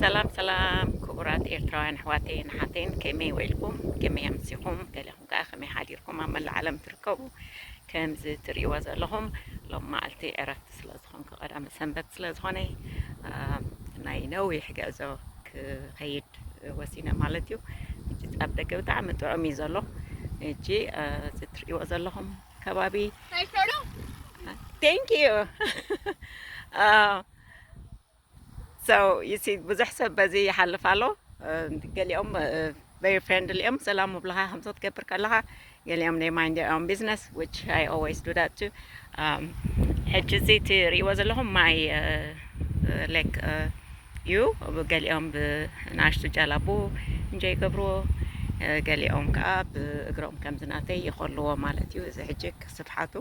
ሰላም ሰላም ክቡራት ኤርትራውያን ኣሕዋተይን ኣሓተይን ከመይ ውዒልኩም ከመይ ኣምሲኹም ገለኹም ከዓ ከመይ ሓዲርኩም ኣብ መላእ ዓለም ትርከቡ ከምዚ ትርእይዎ ዘለኹም ሎም መዓልቲ ዕረፍቲ ስለ ዝኾንኩ ቀዳመ ሰንበት ስለ ዝኾነ ናይ ነዊሕ ግዕዞ ክኸይድ ወሲነ ማለት እዩ ሕጂ ኣብ ደገ ብጣዕሚ ጥዑም እዩ ዘሎ ሕጂ እዚ ትርእይዎ ዘለኹም ከባቢ ቴንክ ዩ ብዙሕ ሰብ በዚ ይሓልፍ ኣሎ ገሊኦም ቨሪ ፍሬንድሊ እዮም ሰላም ምብልኻ ከምዚ ክትገብር ከለኻ ገሊኦም ናይ ማይንድ ኦን ቢዝነስ ዊች ኣይ ኦልዌይስ ዱ ዳት ቱ ሕጂ እዚ እትሪእዎ ዘለኹም ማይ ሌክ ዩ ገሊኦም ብናእሽቱ ጃላቡ እንጆ ይገብርዎ ገሊኦም ከዓ ብእግሮም ከምዚ ናተይ ይኸልዎ ማለት እዩ እዚ ሕጂ ስፍሓቱ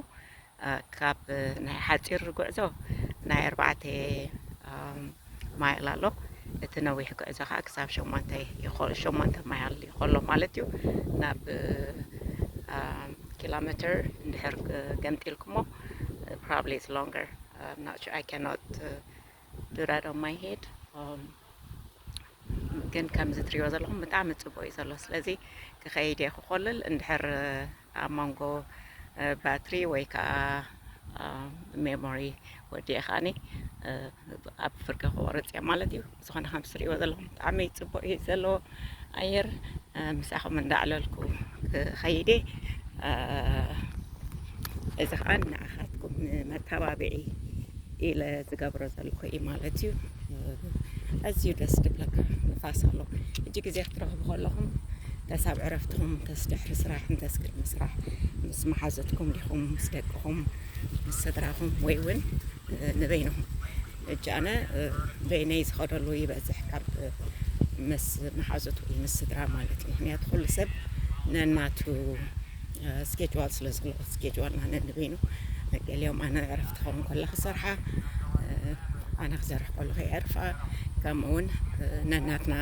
ካብ ናይ ሓፂር ጉዕዞ ናይ ኣርባዕተ ማይል ኣሎ እቲ ነዊሕ ጉዕዞ ከዓ ክሳብ ሸሞንተ ሸሞንተ ማይል ይኸሎ ማለት እዩ ናብ ኪሎ ሜትር እንድሕር ገምጢልኩሞ ፕሮባብሊ ኢትስ ሎንገር ናት ኣይ ካኖት ድራር ኦን ማይ ሄድ ግን ከምዚ ትሪእዎ ዘለኹም ብጣዕሚ ፅቡቅ እዩ ዘሎ ስለዚ ክኸይድ እየ ክኮልል እንድሕር ኣብ መንጎ ባትሪ ወይ ከዓ ሜሞሪ ወዲኤ ከዓኒ ኣብ ፍርቂ ክቆርፅ እየ ማለት እዩ ዝኾነ ከምዚ ትሪእዎ ዘለኹም ብጣዕሚ ፅቡቅ እዩ ዘለዎ ኣየር ምሳኹም እንዳዕለልኩ ክኸይዴ እዚ ከዓ ንዓኻትኩም መተባብዒ ኢለ ዝገብሮ ዘለኹ እዩ ማለት እዩ ኣዝዩ ደስ ድብለካ ንፋስ ኣሎ እጅ ግዜ ክትረኽቡ ከለኹም ተሳብ ዕረፍትኹም እንተስ ድሕሪ ስራሕ እንተስ ቅድሚ ስራሕ ምስ መሓዘትኩም ዲኹም ምስ ደቅኹም ምስ ስድራኹም ወይ እውን ንበይንኹም ሕጂ ኣነ በይነይ ዝኸደሉ ይበዝሕ ካብ ምስ መሓዙት ወይ ምስ ስድራ ማለት እዩ ምክንያቱ ኩሉ ሰብ ነናቱ ስኬጅዋል ስለ ዘለዎ ስኬጅዋልና ነንበይኑ ገሊኦም ኣነ ዕረፍቲ ክኸውን ከሎ ክሰርሓ ኣነ ክሰርሕ ከለኹ የዕርፋ ከምኡ እውን ነናትና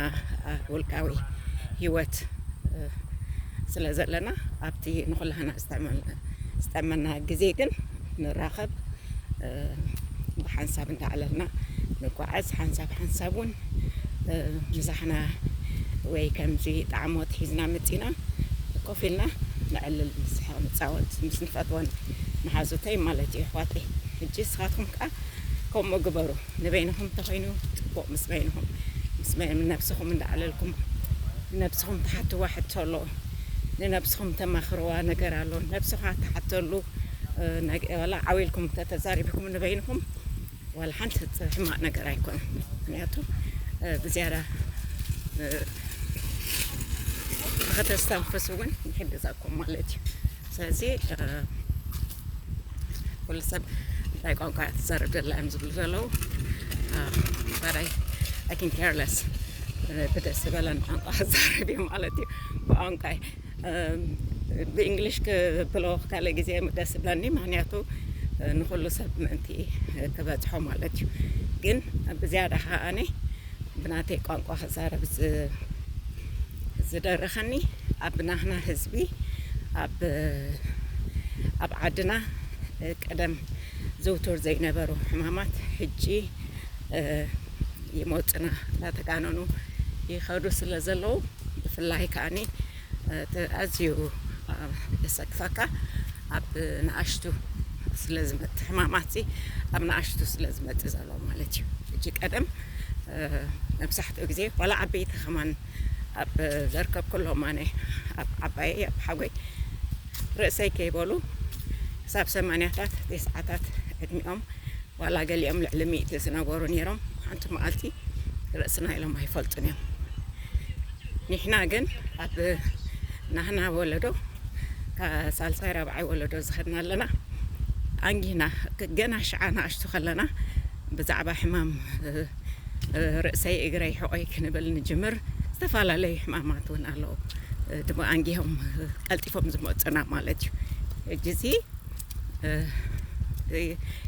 ውልቃዊ ሂወት ስለ ዘለና ኣብቲ ንኩላህና ዝጠመና ግዜ ግን ንራኸብ ብሓንሳብ እንዳዕለልና ንጓዓዝ ሓንሳብ ሓንሳብ እውን ምሳሕና ወይ ከምዚ ጣዕሞት ሒዝና መፂና ኮፍ ኢልና ንዕልል ንስሕቕ ንፃወት ምስ ንፈትወን መሓዙተይ ማለት እዩ ኣሕዋተይ ሕጂ ንስኻትኩም ከዓ ከምኡ ግበሩ ንበይንኹም እንተኾይኑ ፅቡቕ ምስ በይንኹም ምስ ነብስኹም እንዳዕለልኩም ነብስኹም ትሓትዋ ሕቶ ኣሎ ንነብስኹም ተማኽርዋ ነገር ኣሎ ነብስኻ ትሓተሉ ዋላ ዓው ኢልኩም እንተተዛሪብኩም ንበይንኹም ዋላ ሓንቲ ሕማቅ ነገር ኣይኮነን ምክንያቱ ብዝያዳ ንኸተስተንፍሱ እውን ይሕግዘኩም ማለት እዩ ስለዚ ኩሉ ሰብ እንታይ ቋንቋ እያ ትዛረብ ዘላ እዮም ዝብሉ ዘለዉ ባዳይ ኣይ ካን ኬር ለስ ብደስ ዝበለን ቋንቋ ክዛረብ እዩ ማለት እዩ ብቋንቋይ ብእንግሊሽ ክብሎ ካልእ ግዜ ደስ ብለኒ ምክንያቱ ንኩሉ ሰብ ምእንቲ ክበፅሖ ማለት እዩ ግን ብዝያዳ ከዓኒ ብናተይ ቋንቋ ክዛረብ ዝደረኸኒ ኣብ ናህና ህዝቢ ኣብ ኣብ ዓድና ቀደም ዘውትር ዘይነበሩ ሕማማት ሕጂ ይመፁና እናተጋነኑ ይኸዱ ስለ ዘለዉ ብፍላይ ከዓኒ ኣዝዩ የሰክፈካ ኣብ ንኣሽቱ ስለ ዝመጽእ ሕማማትሲ ኣብ ንኣሽቱ ስለ ዝመጽእ ዘሎ ማለት እዩ ሕጂ ቀደም መብዛሕትኡ ግዜ ዋላ ዓበይቲ ከማን ኣብ ዘርከብ ኩሎም ኣነ ኣብ ዓባየይ ኣብ ሓጎይ ርእሰይ ከይበሉ ክሳብ ሰማንያታት ቴስዓታት ዕድሚኦም ዋላ ገሊኦም ልዕሊ ሚእቲ ዝነበሩ ነይሮም ሓንቲ መዓልቲ ርእስና ኢሎም ኣይፈልጡን እዮም ኒሕና ግን ኣብ ናህና ወለዶ ሳልሳይ ራብዓይ ወለዶ ዝኸድና ኣለና ኣንጊህና ገና ሽዓ ንኣሽቱ ከለና ብዛዕባ ሕማም ርእሰይ እግረይ ሕቆይ ክንብል ንጅምር ዝተፈላለዩ ሕማማት እውን ኣለዉ ድማ ኣንጊሆም ቀልጢፎም ዝመፁና ማለት እዩ እጅዚ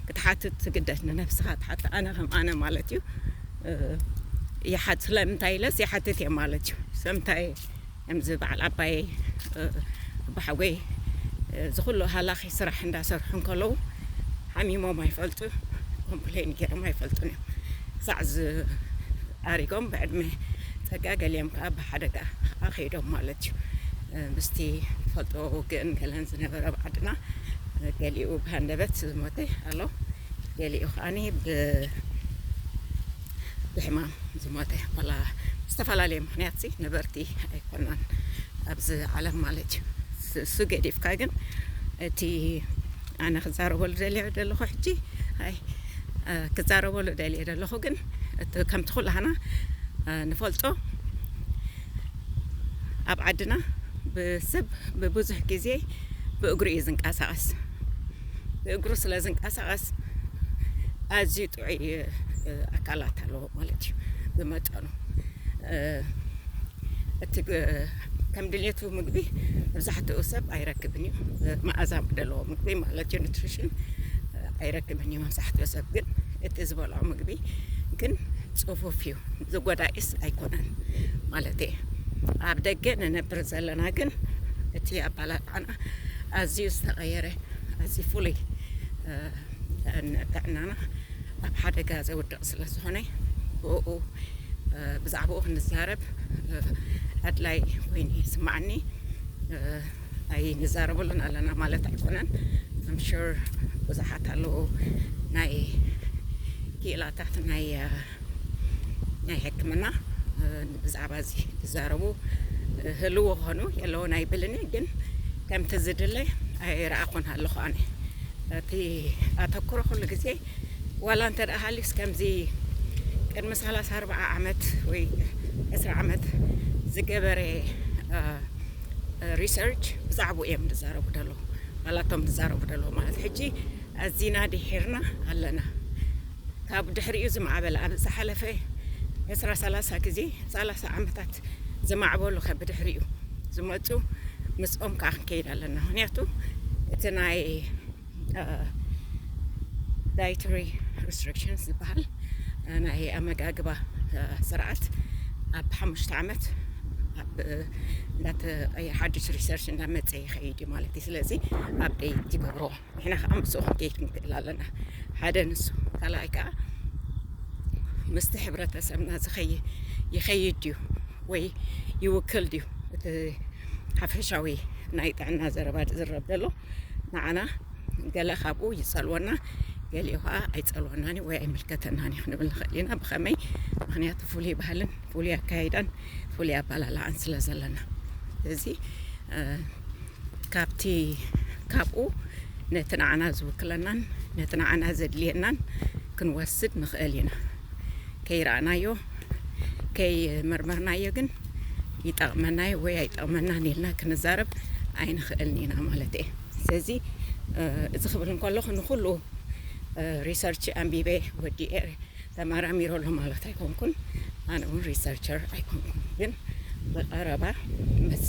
ክትሓትት ትግደድ ንነብስኻ ትሓት ኣነ ከም ኣነ ማለት እዩ ይሓት ስለምንታይ ኢለስ ይሓትት እየ ማለት እዩ ሰምታይ ከምዚ በዓል ኣባይ ብሓጎይ ዝኩሉ ሃላኺ ስራሕ እንዳሰርሑ እንከለዉ ሓሚሞም ኣይፈልጡ ኮምፕሌን ገይሮም ኣይፈልጡን እዮም ሳዕ ዝኣሪጎም ብዕድመ ፀጋ ገሊኦም ከዓ ሓደጋ ኣኺዶም ማለት እዩ ምስቲ ፈልጦ ውግእን ገለን ዝነበረ ኣብ ዓድና ገሊኡ ብሃንደበት ዝሞተ ኣሎ ገሊኡ ከዓኒ ብሕማም ዝሞተ ዋላ ዝተፈላለየ ምክንያት ሲ ነበርቲ ኣይኮናን ኣብዚ ዓለም ማለት እዩ እሱ ገዲፍካ ግን እቲ ኣነ ክዛረበሉ ደልየ ደለኹ ሕጂ ኣይ ክዛረበሉ ደልየ ደለኹ ግን እቲ ከምቲ ኩላህና ንፈልጦ ኣብ ዓድና ብሰብ ብብዙሕ ግዜ ብእግሩ እዩ ዝንቀሳቐስ ብእግሩ ስለ ዝንቀሳቐስ ኣዝዩ ጥዑይ ኣካላት ኣለዎ ማለት እዩ ብመጠኑ እቲ ከም ድሌቱ ምግቢ መብዛሕትኡ ሰብ ኣይረክብን እዩ መኣዛ ደለዎ ምግቢ ማለት እዩ ኒትሪሽን ኣይረክብን እዩ መብዛሕትኡ ሰብ ግን እቲ ዝበልዖ ምግቢ ግን ፅፉፍ እዩ ዝጎዳኢስ ኣይኮነን ማለት እየ ኣብ ደገ ንነብር ዘለና ግን እቲ ኣባላልዓና ኣዝዩ ዝተቐየረ ኣዝዩ ፍሉይ ንጥዕናና ኣብ ሓደጋ ዘውድቕ ስለ ዝኾነ ብኡ ብዛዕባኡ ክንዛረብ ኣድላይ ኮይኑ ይስማዓኒ ኣይ ንዛረበሉን ኣለና ማለት ኣይኮነን ኣምሹር ብዙሓት ኣለዉ ናይ ክኢላታት ናይ ናይ ሕክምና ብዛዕባ እዚ ዝዛረቡ ህልው ኾኑ የለውን ኣይብልን እየ ግን ከምቲ ዝድለ ኣይረኣኹን ኣለኹ ኣነ እቲ ኣተኩሮ ኩሉ ግዜ ዋላ እንተ ደኣ ሃልዩስ ከምዚ ቅድሚ 30 40 ዓመት ወይ 20 ዓመት ዝገበረ ሪሰርች ብዛዕባ እዮም ዝዛረቡ ደለዉ ዋላቶም ዝዛረቡ ደለዉ ማለት ሕጂ ኣዚና ድሒርና ኣለና ካብ ድሕሪኡ ዝማዕበለ ኣብ ዝሓለፈ ዕስራ ሰላሳ ግዜ ሰላሳ ዓመታት ዝማዕበሉ ከ ብድሕሪኡ ዝመፁ ምስኦም ከዓ ክንከይድ ኣለና ምክንያቱ እቲ ናይ ዳይትሪ ሪስትሪክሽንስ ዝበሃል ናይ ኣመጋግባ ስርዓት ኣብ ሓሙሽተ ዓመት እንዳተቀየ ሓዱሽ ሪሰርች እንዳመፀ ይኸይድ እዩ ማለት እዩ ስለዚ ኣብደይ ትገብርዎ ንሕና ከዓ ምስኡ ክንከይድ ንክእል ኣለና ሓደ ንሱ ካልኣይ ከዓ ምስቲ ሕብረተሰብና ዝኸይ ይኸይድ ድዩ ወይ ይውክል ድዩ እቲ ሓፈሻዊ ናይ ጥዕና ዘረባ ዝዝረብ ዘሎ ንዓና ገለ ካብኡ ይፀልወና ገሊኡ ከዓ ኣይፀልወናን ወይ ኣይምልከተናን እዩ ክንብል ንኽእል ኢና ብኸመይ ምክንያቱ ፍሉይ ባህልን ፍሉይ ኣካይዳን ፍሉይ ኣባላልዓን ስለ ዘለና ስለዚ ካብቲ ካብኡ ነቲ ንዓና ዝውክለናን ነቲ ንዓና ዘድልየናን ክንወስድ ንኽእል ኢና። ከይረኣናዮ ከይመርመርናዮ ግን ይጠቕመናዮ ወይ ኣይጠቕመናን ኢልና ክንዛረብ ኣይንኽእልን ኢና ማለት እየ። ስለዚ እዚ ክብል እንከለኹ ንኹሉ ሪሰርች ኣንቢበ ወዲኤ ተመራሚሩ ኣሎ ማለት ኣይኮንኩን ኣነ ውን ሪሰርቸር ኣይኮንኩን ግን ብቐረባ ምስ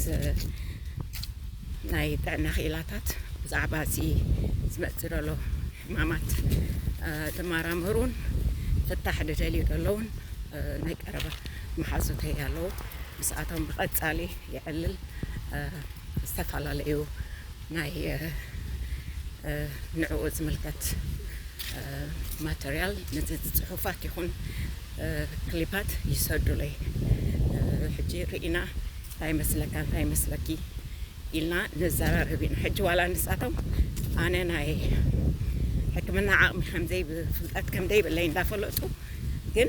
ናይ ጥዕና ክኢላታት ብዛዕባ እዚ ዝመፅእ ዘሎ ሕማማት ዝመራመሩን ፍታሕ ዝደልዩ ዘለውን ናይ ቀረባ መሓዙተይ ኣለዉ ምስኣቶም ብቐፃሊ የዕልል ዝተፈላለዩ ናይ ንዕኡ ዝምልከት ማተርያል ጽሑፋት ይኹን ክሊፓት ይሰዱለይ ሕጂ ርኢና እንታይ ይመስለካ እንታይ ይመስለኪ ኢልና ንዘራረብ ኢና ሕጂ ዋላ ንሳቶም ኣነ ናይ ሕክምና ዓቕሚ ከምዘይ ፍልጠት ከምዘይብለይ እንዳፈለጡ ግን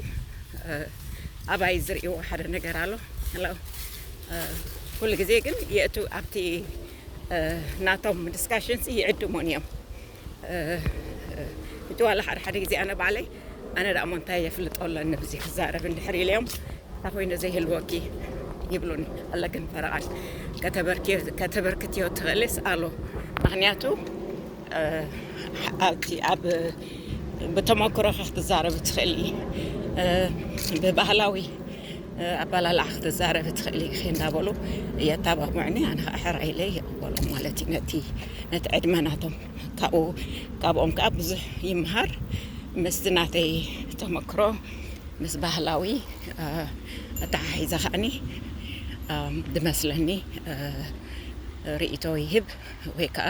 ኣባይ ዝርእይዎ ሓደ ነገር ኣሎ ኩሉ ግዜ ግን የእቱ ኣብቲ ናቶም ዲስካሽን ሲ ይዕድሙን እዮም እቲ ዋላ ሓደ ሓደ ግዜ ኣነ ባዕለይ ኣነ ደኣ ሞንታይ የፍልጦ ኣለኒ ብዚ ክዛረብ እንድሕር ኢለዮም እታ ኮይነ ዘይህልወኪ ይብሉኒ ኣለክን ፈረቓን ከተበርክትዮ ትኽእልስ ኣሉ ምክንያቱ ኣብቲ ኣብ ብተመክሮኻ ክትዛረብ ትኽእሊ ብባህላዊ ኣባላልዓ ክትዛረቢ ትኽእሊ ኢኺ እንዳበሉ የታባብዑኒ ኣነ ከዓ ሕራይ ኢለ ይቕበሎም ማለት እዩ ነቲ ነቲ ዕድመ ናቶም ካብኡ ካብኦም ከዓ ብዙሕ ይምሃር ምስቲ ናተይ ተመክሮ ምስ ባህላዊ ኣተሓሒዛ ከዓኒ ድመስለኒ ርኢቶ ይህብ ወይ ከዓ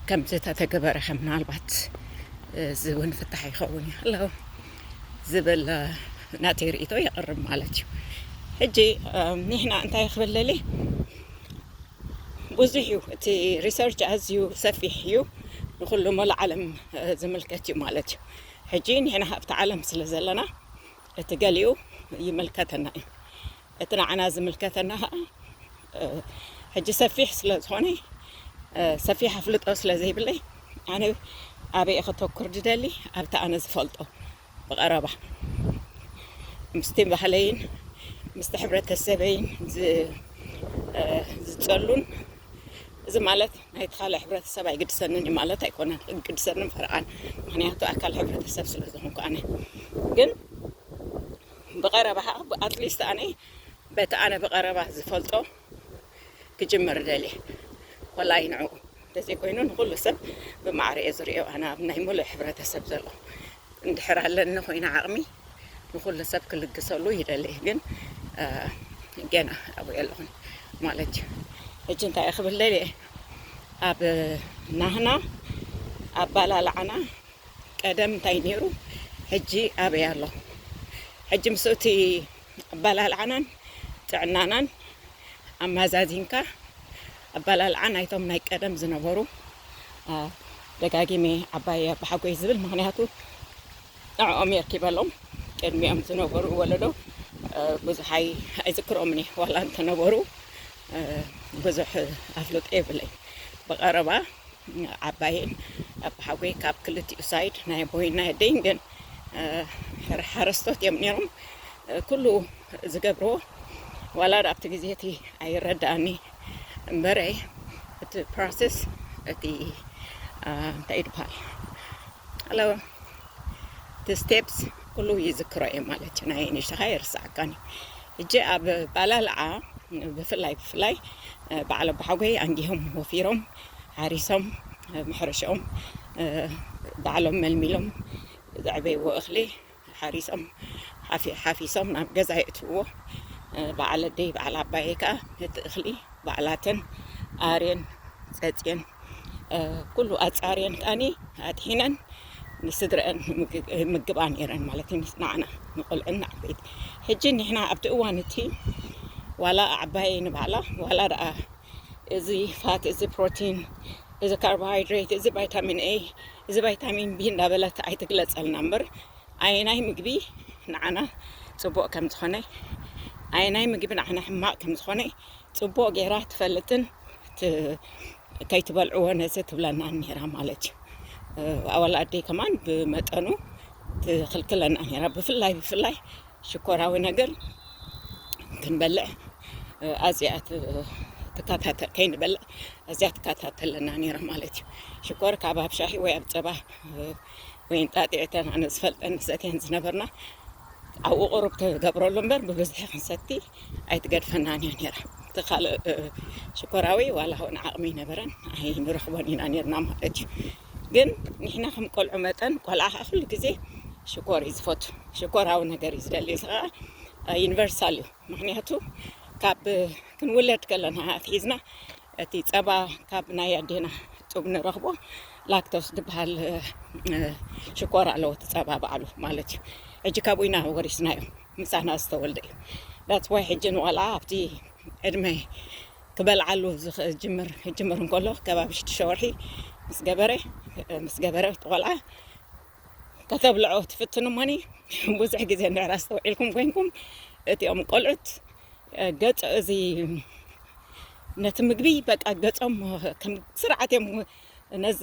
ከምቲ ተተገበረ ከም ምናልባት እዚ እውን ፍታሕ ይኸውን እዩ ኣለዉ ዝብል ናተይ ርእይቶ የቕርብ ማለት እዩ ሕጂ ኒሕና እንታይ ክብልሊ ብዙሕ እዩ እቲ ሪሰርች ኣዝዩ ሰፊሕ እዩ ንኩሉ መሉ ዓለም ዝምልከት እዩ ማለት እዩ ሕጂ ንሕና ሃብቲ ዓለም ስለ ዘለና እቲ ገሊኡ ይምልከተና እዩ እቲ ንዓና ዝምልከተና ከኣ ሕጂ ሰፊሕ ስለ ዝኾነ ሰፊሕ ኣፍልጦ ስለ ዘይብለይ ኣነ ኣበየ ከተኩር ድደሊ ኣብቲ ኣነ ዝፈልጦ ብቐረባ ምስቲ ባህለይን ምስቲ ሕብረተሰበይን ዝጸሉን እዚ ማለት ናይቲ ካልእ ሕብረተሰብ ኣይግድሰንን እዩ ማለት ኣይኮነን ግድሰንን ፈርቓን ምክንያቱ ኣካል ሕብረተሰብ ስለ ዝኾንኩ ኣነ ግን ብቀረባ ከኣ ብ ኣትሊስት ኣነ በቲ ኣነ ብቀረባ ዝፈልጦ ክጅምር ደልየ ኮላይ ንዕኡ እንተዘይ ኮይኑ ንኩሉ ሰብ ብማዕረ እየ ዝሪኦ ኣነ ኣብ ናይ ምሉእ ሕብረተሰብ ዘሎ እንድሕር ኣለኒ ኮይነ ዓቅሚ ንኩሉ ሰብ ክልግሰሉ ይደሊ ግን ጌና ኣብኡ የለኹን ማለት እዩ ሕጂ እንታይ እየ ክብል ደልየ ኣብ ናህና ኣባላልዓና ቀደም እንታይ ኔሩ ሕጂ ኣበይ ኣሎ ሕጂ ምስ እቲ ኣባላልዓናን ጥዕናናን ኣማዛዚንካ ኣባላልዓ ናይቶም ናይ ቀደም ዝነበሩ ደጋጊሜ ዓባየ ኣባሓጎይ ዝብል ምክንያቱ ንዕኦም የርኪበሎም ቅድሚኦም ዝነበሩ ወለዶ ብዙሕ ኣይዝክሮምን እየ ዋላ እንተነበሩ ብዙሕ ኣፍልጦ የብለይ ብቐረባ ዓባየን ኣቦሓጎይ ካብ ክልቲኡ ሳይድ ናይ ኣቦይን ናይ ኣደይን ግን ሓረስቶት እዮም ነይሮም። ኩሉ ዝገብርዎ ዋላ ኣብቲ ግዜ እቲ ኣይረዳእኒ እምበረ እቲ ፕሮሰስ እቲ እንታይ ይድበሃል ኣለ እቲ ስቴፕስ ኩሉ ይዝክሮ እየ ማለት እዩ። ናይ ንሽኻ የርስዓካኒ እጂ ኣብ ባላልዓ ብፍላይ ብፍላይ በዓል ኣቦሓጎይ ኣንጊሆም ወፊሮም ሓሪሶም ኣብ ሕርሻኦም ባዕሎም መልሚሎም ዘዕበይዎ እኽሊ ሓሪሶም ሓፊሶም ናብ ገዛ የእትውዎ በዓል ኣደይ በዓል ኣባየ ከዓ ነቲ እኽሊ ባዕላተን ኣርየን ፀፅየን ኩሉ ኣፃርየን ከዓኒ ኣጥሒነን ንስድረአን ምግባ ነይረን ማለት እዩ ንዓና ንቆልዑን ንዓበይቲ ሕጂ ንሕና ኣብቲ እዋን እቲ ዋላ ኣዕባየ ንባዕላ ዋላ ደኣ እዚ ፋት እዚ ፕሮቲን እዚ ካርቦሃይድሬት እዚ ቫይታሚን ኤ እዚ ቫይታሚን ቢ እንዳበለት ኣይትግለፀልና እምበር ኣየናይ ምግቢ ንዓና ፅቡቅ ከም ዝኾነ ኣየናይ ምግቢ ንዓና ሕማቅ ከም ዝኾነ ፅቡቅ ገይራ ትፈልጥን ከይትበልዕዎ ነዚ ትብለና ነይራ ማለት እዩ ኣወል ኣደይ ከማን ብመጠኑ ትኽልክለና ነይራ ብፍላይ ብፍላይ ሽኮራዊ ነገር ክንበልዕ ኣዚኣ ትከታተል ከይንበልዕ ኣዚያ ትከታተለና ነይራ ማለት እዩ ሽኮር ካብ ኣብ ሻሂ ወይ ኣብ ፀባ ወይ እንጣጢዕተን ኣነ ዝፈልጠን ሰትየን ዝነበርና ኣብኡ ቁሩብ ትገብረሉ እምበር ብብዝሒ ክንሰቲ ኣይትገድፈናን እያ ነይራ እቲ ካልእ ሽኮራዊ ዋላ እውን ዓቕሚ ይነበረን ኣይንረኽቦን ኢና ነርና ማለት እዩ ግን ንሕና ከም ቆልዑ መጠን ቆልዓ ከዓ ኩሉ ግዜ ሽኮር እዩ ዝፈቱ ሽኮራዊ ነገር እዩ ዝደሊ እዚ ከዓ ዩኒቨርሳል እዩ ምክንያቱ ካብ ክንውለድ ከለና ኣትሒዝና እቲ ፀባ ካብ ናይ ኣዴና ጡብ ንረኽቦ ላክቶስ ዝበሃል ሽኮር ኣለዎ እቲ ፀባ በዓሉ ማለት እዩ ሕጂ ካብኡ ኢና ወሪስናዮ ምሳና ዝተወልደ እዩ ዳትስ ዋይ ሕጂ ንቆልዓ ኣብቲ ዕድመ ክበልዓሉ ዝጅምር ክጅምር እንከሎ ከባቢ ሽዱሽተ ወርሒ ምስ ገበረ ምስ ገበረ እቲ ቆልዓ ከተብልዖ ትፍትኑ እሞኒ ብዙሕ ግዜ እንድሕር ኣስተውዒልኩም ኮይንኩም እቲኦም ቆልዑት ገጽ እዚ ነቲ ምግቢ በቃ ገጾም ከም ስርዓት እዮም ነዚ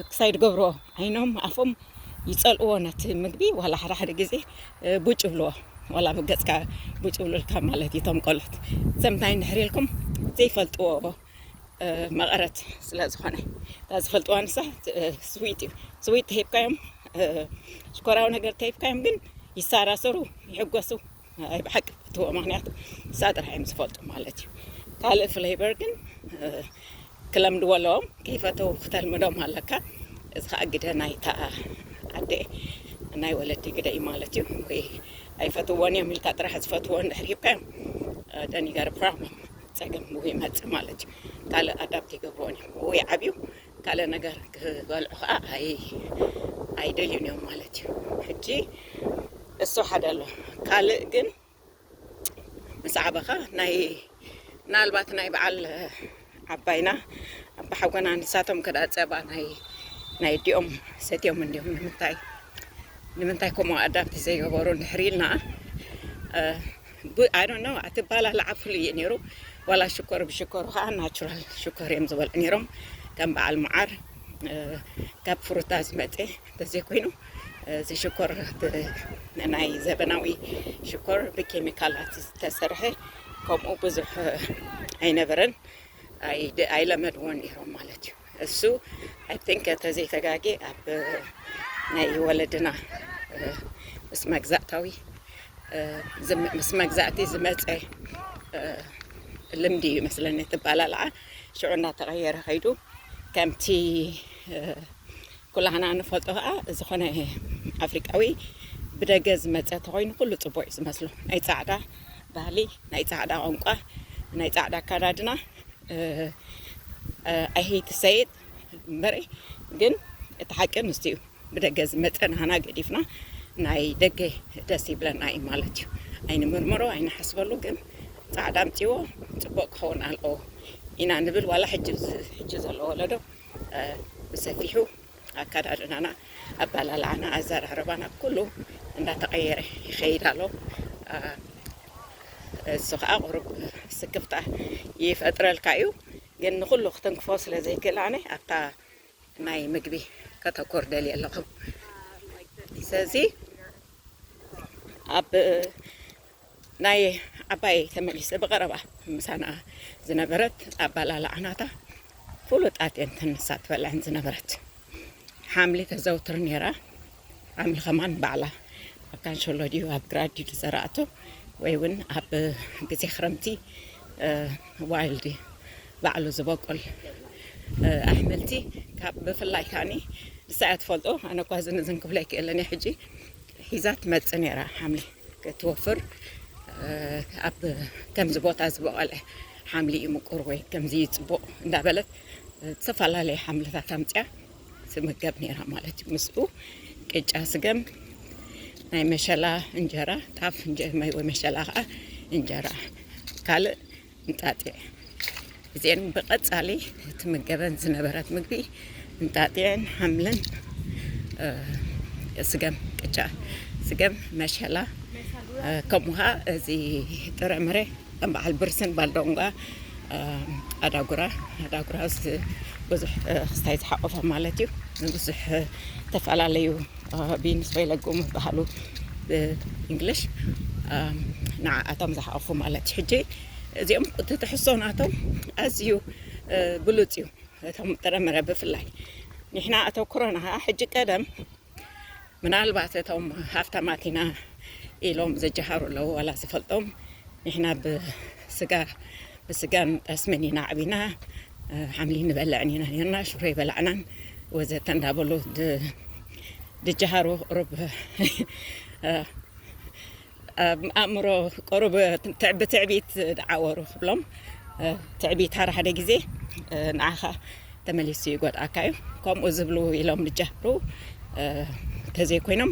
ክሳይ ድገብርዎ ዓይኖም ኣፎም ይጸልእዎ ነቲ ምግቢ ዋላ ሓደ ሓደ ግዜ ቡጭ ይብልዎ ዋላ ኣብ ገጽካ ቡጭ ይብሉልካ ማለት እዩ እቶም ቆልዑት እዞም እንታይ እንድሕር ኢልኩም ዘይፈልጥዎ መቐረት ስለ ዝኾነ እታ ዝፈልጥዋ ንሳ ስዊት እዩ ስዊት ተሂብካዮም ሽኮራዊ ነገር ተሂብካዮም ግን ይሳራሰሩ ይሕጎሱ ናይ ብሓቂ ፈትዎ ምክንያቱ ንሳ ጥራሕ እዮም ዝፈልጡ ማለት እዩ ካልእ ፍሌቨር ግን ክለምድዎ ኣለዎም ከይፈተው ክተልምዶም ኣለካ እዚ ከዓ ግደ ናይታ ኣደ ናይ ወለዲ ግደ እዩ ማለት እዩ ወይ ኣይፈትዎን እዮም ኢልካ ጥራሕ ዝፈትዎ እንድሕር ሂብካዮም ደኒገር ፕሮብለም ፀገም ይመፅእ ማለት እዩ ካልእ ኣዳብት ይገብርዎን እዮም ወይ ዓብዩ ካልእ ነገር ክበልዑ ከኣ ኣይደልዩን እዮም ማለት እዩ። ሕጂ እሱ ሓደ ኣሎ ካልእ ግን ምስ ዓበኻ ናይ ምናልባት ናይ በዓል ዓባይና ኣባሓጎና ንሳቶም ከደኣ ጸባ ናይ ናይ ኣዲኦም ሰትዮም እንድዮም ንምንታይ ንምንታይ ከምኡ ኣዳብት ዘይገበሩ እንድሕሪ ኢልና ብ I don't know ኣቲ ባላ ላዓ ፍሉይ እዩ ነይሩ ዋላ ሽኮር ብሽኮር ካዓ ናቹራል ሽኮር እዮም ዝበልዑ ነይሮም ከም ባዓል ማዓር ካብ ፍሩታ ዝመፀ ተዘይ ኮይኑ እዚ ሽኮር ብ ናይ ዘበናዊ ሽኮር ብኬሚካላት ዝተሰርሐ ከምኡ ብዙሕ ኣይነበረን ኣይለመድዎን ነይሮም ማለት እዩ። እሱ ኣይ ቲንክ እንተዘይ ተጋግየ ኣብ ናይ ወለድና ምስ መግዛእታዊ ምስ መግዛእቲ ዝመፀ ልምዲ እዩ መስለኒ እቲ ኣባላልዓ ሽዑ እናተቐየረ ከይዱ ከምቲ ኩላህና ንፈልጦ ከዓ ዝኾነ ኣፍሪቃዊ ብደገ ዝመፀ ተኮይኑ ኩሉ ፅቡቅ እዩ ዝመስሎ ናይ ፃዕዳ ባህሊ ናይ ፃዕዳ ቋንቋ ናይ ፃዕዳ ኣካዳድና ኣይ ሄት ቱ ሰይ ኢት እምበረ ግን እቲ ሓቂ ምስቲ እዩ ብደገ ዝመፀ ናህና ገዲፍና ናይ ደገ ደስ ይብለና እዩ ማለት እዩ ኣይንምርምሮ ኣይንሓስበሉ ግን ፃዕዳ ኣምፅዎ ፅቡቅ ክኸውን ኣለዎ ኢና ንብል ዋላ ሕጂ ሕጂ ዘሎ ወለዶ እ፣ ብሰፊሑ ኣከዳድናና ኣበላልዓና ኣዘራርባና ኩሉ እንዳተቐየረ ይኸይድ ኣሎ። እሱ ከዓ ቁሩብ ስክፍታ ይፈጥረልካ እዩ። ግን ንኹሉ ክትንክፎ ስለ ዘይክእል ኣነ ኣብታ ናይ ምግቢ ከተኮር ደልየ ኣለኹ። ስለዚ ኣብ ናይ ዓባየይ ተመሊሰ ብቐረባ ምሳና ዝነበረት ኣባላልዓ ናታ ፍሉጣት እየን እተን ንሳ ትበልዐን ዝነበረት ሓምሊ ተዘውትር ነይራ ሓምሊ ከማን ባዕላ ኣብ ካንሸሎ ድዩ ኣብ ግራ ድዩ ዝዘራእቶ ወይ እውን ኣብ ግዜ ክረምቲ ዋይልድ ባዕሉ ዝበቁል ኣሕምልቲ ካብ ብፍላይ ካኒ ንሳ እያ ትፈልጦ ኣነ እኳ ዝን ዝን ክብሎ ኣይክእልን እየ ሕጂ ሒዛ ትመፅእ ነይራ ሓምሊ ክትወፍር ኣብ ከምዚ ቦታ ዝበቐለ ሓምሊ እዩ ምቁር ወይ ከምዚ እዩ ፅቡቕ እንዳበለት ዝተፈላለዩ ሓምልታት ኣምፅያ ትምገብ ነይራ ማለት እዩ ምስኡ ቅጫ ስገም ናይ መሸላ እንጀራ ጣፍ ወይ መሸላ ከዓ እንጀራ ካልእ እንጣጢዕ እዚኤን ብቀጻሊ ትምገበን ዝነበረት ምግቢ እንጣጢዕን ሓምልን ስገም ቅጫ ስገም መሸላ ከምኡ ኸኣ እዚ ጥረምረ ከም በዓል ብርስን ባልዶንጓ ኣዳጉራ ኣዳጉራ ብዙሕ ክስታይ ዝሓቆፈ ማለት እዩ ንብዙሕ ዝተፈላለዩ ቢንስ ወይ ለጉም ይበሃሉ ብእንግሊሽ ንዓኣቶም ዝሓቑፉ ማለት እዩ ሕጂ እዚኦም እቲ ትሕዝቶ ናቶም ኣዝዩ ብሉፅ እዩ እቶም ጥረምረ ብፍላይ ንሕና ኣተኩሮና ከዓ ሕጂ ቀደም ምናልባት እቶም ሃፍታማት ኢና ኢሎም ዝጀሃሩ ኣለዉ ዋላ ዝፈልጦም ንሕና ስጋ ብስጋን ጠስምን ኢና ዓቢና፣ ሓምሊ ንበልዕን ኢና ኔርና፣ ሽሮ ኣይበላዕናን ወዘተ እንዳበሉ ድጀሃሩ ቁሩብ ኣብ ኣእምሮ ቁሩብ ብትዕቢት ደዓወሩ ክብሎም ትዕቢት ሓደ ሓደ ግዜ ንዓኻ ተመሊሱ ይጎድኣካ እዩ ከምኡ ዝብሉ ኢሎም ብጃብሩ ተዘይኮይኖም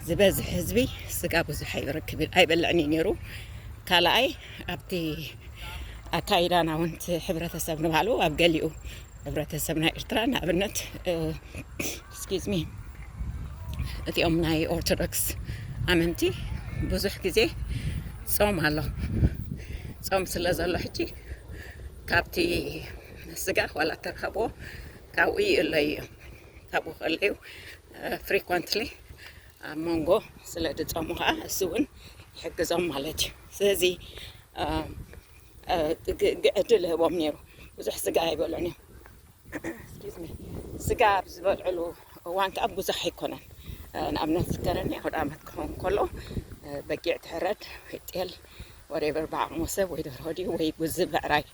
ዝበዝሕ ህዝቢ ስጋ ብዙሕ ኣይረክብ ኣይበልዕን እዩ ነይሩ ካልኣይ ኣብቲ ኣካይዳና እውን እቲ ሕብረተሰብ ንባዕሉ ኣብ ገሊኡ ሕብረተሰብ ናይ ኤርትራ ንኣብነት ስኪዝሚ እቲኦም ናይ ኦርቶዶክስ ኣመንቲ ብዙሕ ግዜ ጾም ኣሎ ጾም ስለ ዘሎ ሕጂ ካብቲ ምስጋር ዋላ ተረኸብዎ ካብኡ ይእለዩ እዮም ካብኡ ከለዩ ፍሪኮንትሊ ኣብ መንጎ ስለ ድፀሙ ከዓ እሱ እውን ይሕግዞም ማለት እዩ ስለዚ ዕድል ህቦም ነይሩ ብዙሕ ስጋ ኣይበሎን እዮም ስጋ ኣብ ዝበልዕሉ እዋን ከኣ ብዙሕ ኣይኮነን ንኣብነት ዝከረኒ ኣውድኣመት ክኸውን ከሎ በጊዕ ትሕረድ ወይ ጤል ወሬቨር ብዓቕሙ ሰብ ወይ ደርሆ ድዩ ወይ ጉዚ ብዕራይ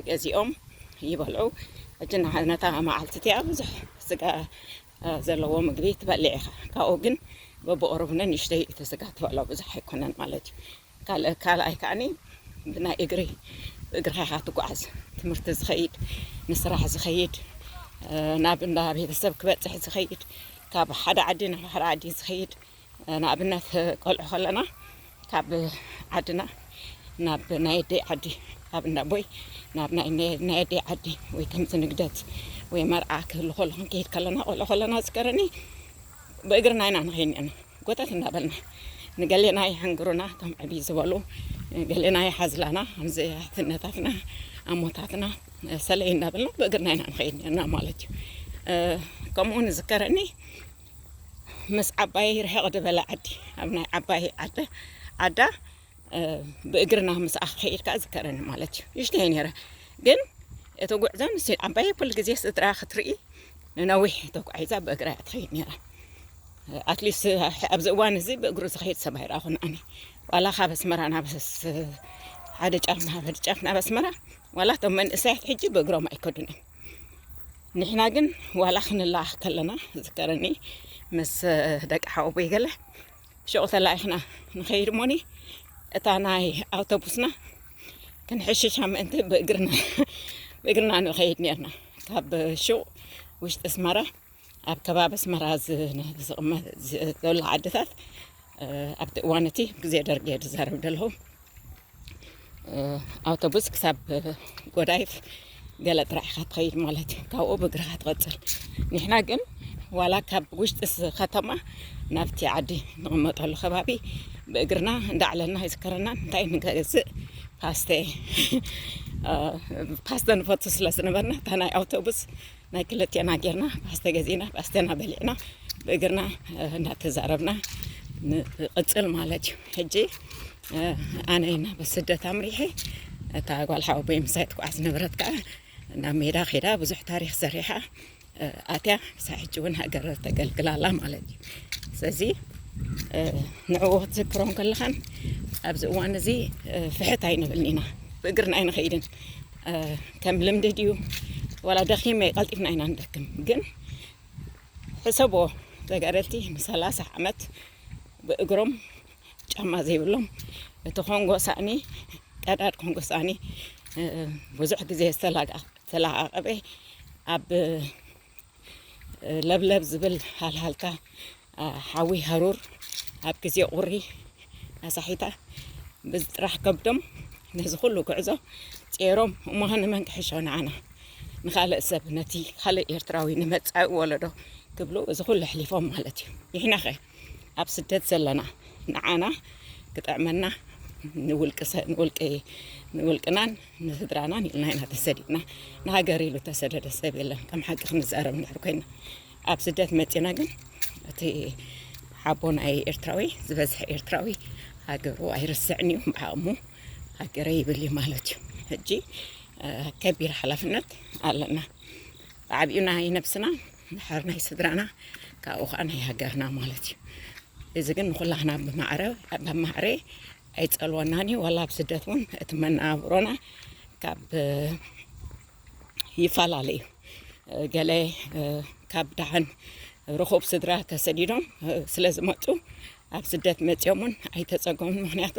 ገዚኦም ይበልዑ ሕጂ ንዓነታ መዓልቲ እቲኣ ብዙሕ ስጋ ዘለዎ ምግቢ ትበልዕ ኢኻ ካብኡ ግን በብቕሩብ ንንእሽተይ እቲ ስጋ ትበልዖ ብዙሕ ኣይኮነን ማለት እዩ ካልኣይ ከኣኒ ብናይ እግሪ ብእግርኻ ኢኻ ትጓዓዝ ትምህርቲ ዝኸይድ ንስራሕ ዝኸይድ ናብ እንዳ ቤተሰብ ክበፅሕ ዝኸይድ ካብ ሓደ ዓዲ ናብ ሓደ ዓዲ ዝኸይድ ንኣብነት ቆልዑ ከለና ካብ ዓድና ናብ ናይ ኣደይ ዓዲ ኣብ እንዳ ቦይ ናብ ናይ ኣደይ ዓዲ ወይ ከምዚ ንግደት ወይ መርዓ ክህሉ ከሎ ክንከይድ ከለና ቆልዑ ከለና ዝከረኒ ብእግርና ኢና ንኸይድ ነርና ጎተት እንዳበልና ንገሌና የሐንግሩና እቶም ዕብይ ዝበሉ ገሌና ይሓዝላና ከምዚ ኣሕትነታትና ኣሞታትና ሰለይ እንዳበልና ብእግርና ኢና ንኸይድ ነርና ማለት እዩ ከምኡ ውን ዝከረኒ ምስ ዓባይ ርሕቕ ዝበለ ዓዲ ኣብ ናይ ዓባይ ዓዲ ዓዳ ብእግርና ምስ ኣኸይድካ ዝከረኒ ማለት እዩ ይሽተይ ነረ ግን እቲ ጉዕዞ ምስ ዓባየ ኩሉ ግዜ ስድራ ክትርኢ ንነዊሕ ተጓዒዛ ብእግራ እያ ትኸይድ ነራ ኣትሊስት ኣብዚ እዋን እዚ ብእግሩ ዝኸይድ ሰብ ኣይረኣኹን ኣነ ዋላ ካብ ኣስመራ ናብ ሓደ ጫፍ ናብ ሓደ ጫፍ ናብ ኣስመራ ዋላ እቶም መንእሰያት ሕጂ ብእግሮም ኣይከዱን እዮም ንሕና ግን ዋላ ክንለኣኽ ከለና ዝከረኒ ምስ ደቂ ሓወቦይ ገለ ሽዑ ተላኢኽና ንኸይድ እሞኒ እታ ናይ ኣውቶቡስና ክንሕሽሻ ምእንቲ ብእግርና ብእግርና ንኸይድ ነርና ካብ ሹቕ ውሽጢ ኣስመራ ኣብ ከባቢ ኣስመራ ዝቕመጥ ዘሎ ዓድታት ኣብቲ እዋን እቲ ግዜ ደርጊ እየ ዝዛረብ ዘለኹ ኣውቶቡስ ክሳብ ጎዳይፍ ገለ ጥራሕ ኢኻ ትኸይድ ማለት እዩ ካብኡ ብእግርኻ ትቐፅል ንሕና ግን ዋላ ካብ ውሽጢ ከተማ ናብቲ ዓዲ ንቕመጠሉ ከባቢ ብእግርና እንዳዕለልና ይዝከረና እንታይ ንገዝእ ፓስተ ፓስተ ንፈቱ ስለ ዝነበርና እታ ናይ ኣውቶቡስ ናይ ክልቴና ጌርና ፓስተ ገዚእና ፓስተና በሊዕና ብእግርና እንዳተዛረብና ንቕፅል ማለት እዩ ሕጂ ኣነ ናብ ስደት ኣምሪሐ እታ ጓል ሓወቦይ ምሳይ ትጓዓዝ ነበረት ከዓ ናብ ሜዳ ኼዳ ብዙሕ ታሪክ ሰሪሓ ኣትያ ክሳብ ሕጂ እውን ሃገር ተገልግላ ኣላ ማለት እዩ ስለዚ ንዕኡ ክትዝክሮ ከለኻን ኣብዚ እዋን እዚ ፍሕት ኣይንብልን ኢና ብእግርና ኣይንኸይድን ከም ልምዲ ድዩ ዋላ ደኺመ ቀልጢፍና ኢና ንደክም ግን ሕሰቦ ተጋደልቲ ንሰላሳ ዓመት ብእግሮም ጫማ ዘይብሎም እቲ ኮንጎ ሳእኒ ቀዳድ ኮንጎ ሳእኒ ብዙሕ ግዜ ዝተላዓቀበ ኣብ ለብለብ ዝብል ሃልሃልታ ሓዊ ሃሩር ኣብ ግዜ ቁሪ ኣሳሒታ በዚ ጥራሕ ከብዶም ነዚ ኩሉ ጉዕዞ ጼሮም እሞ ንመን ክሕሾ ንዓና ንካልእ ሰብ ነቲ ካልእ ኤርትራዊ ንመጻኢ ወለዶ ክብሉ እዚ ኩሉ ኣሕሊፎም ማለት እዩ ንሕናኸ ኣብ ስደት ዘለና ንዓና ክጥዕመና ንውልቅናን ንስድራናን ኢልና ኢና ተሰዲድና ንሃገር ኢሉ ተሰደደ ሰብ የለን ከም ሓቂ ክንዛረብ እንድሕር ኮይና ኣብ ስደት መፂና ግን እቲ ሓቦ ናይ ኤርትራዊ ዝበዝሐ ኤርትራዊ ሃገሩ ኣይርስዕን እዩ ብዓቕሙ ሃገረ ይብል እዩ ማለት እዩ ሕጂ ከቢድ ሓላፍነት ኣለና ብዓብኡ ናይ ነብስና እንድሕር ናይ ስድራና ካብኡ ከዓ ናይ ሃገርና ማለት እዩ እዚ ግን ንኩላህና ብማዕረ ብማዕረ ኣይጸልወናን እዩ ዋላ ኣብ ስደት እውን እቲ መነባብሮና ካብ ይፈላለ እዩ ገለ ካብ ደሓን ርኹብ ስድራ ተሰዲዶም ስለ ዝመፁ ኣብ ስደት መጺኦም ውን ኣይተጸገሙን ምኽንያቱ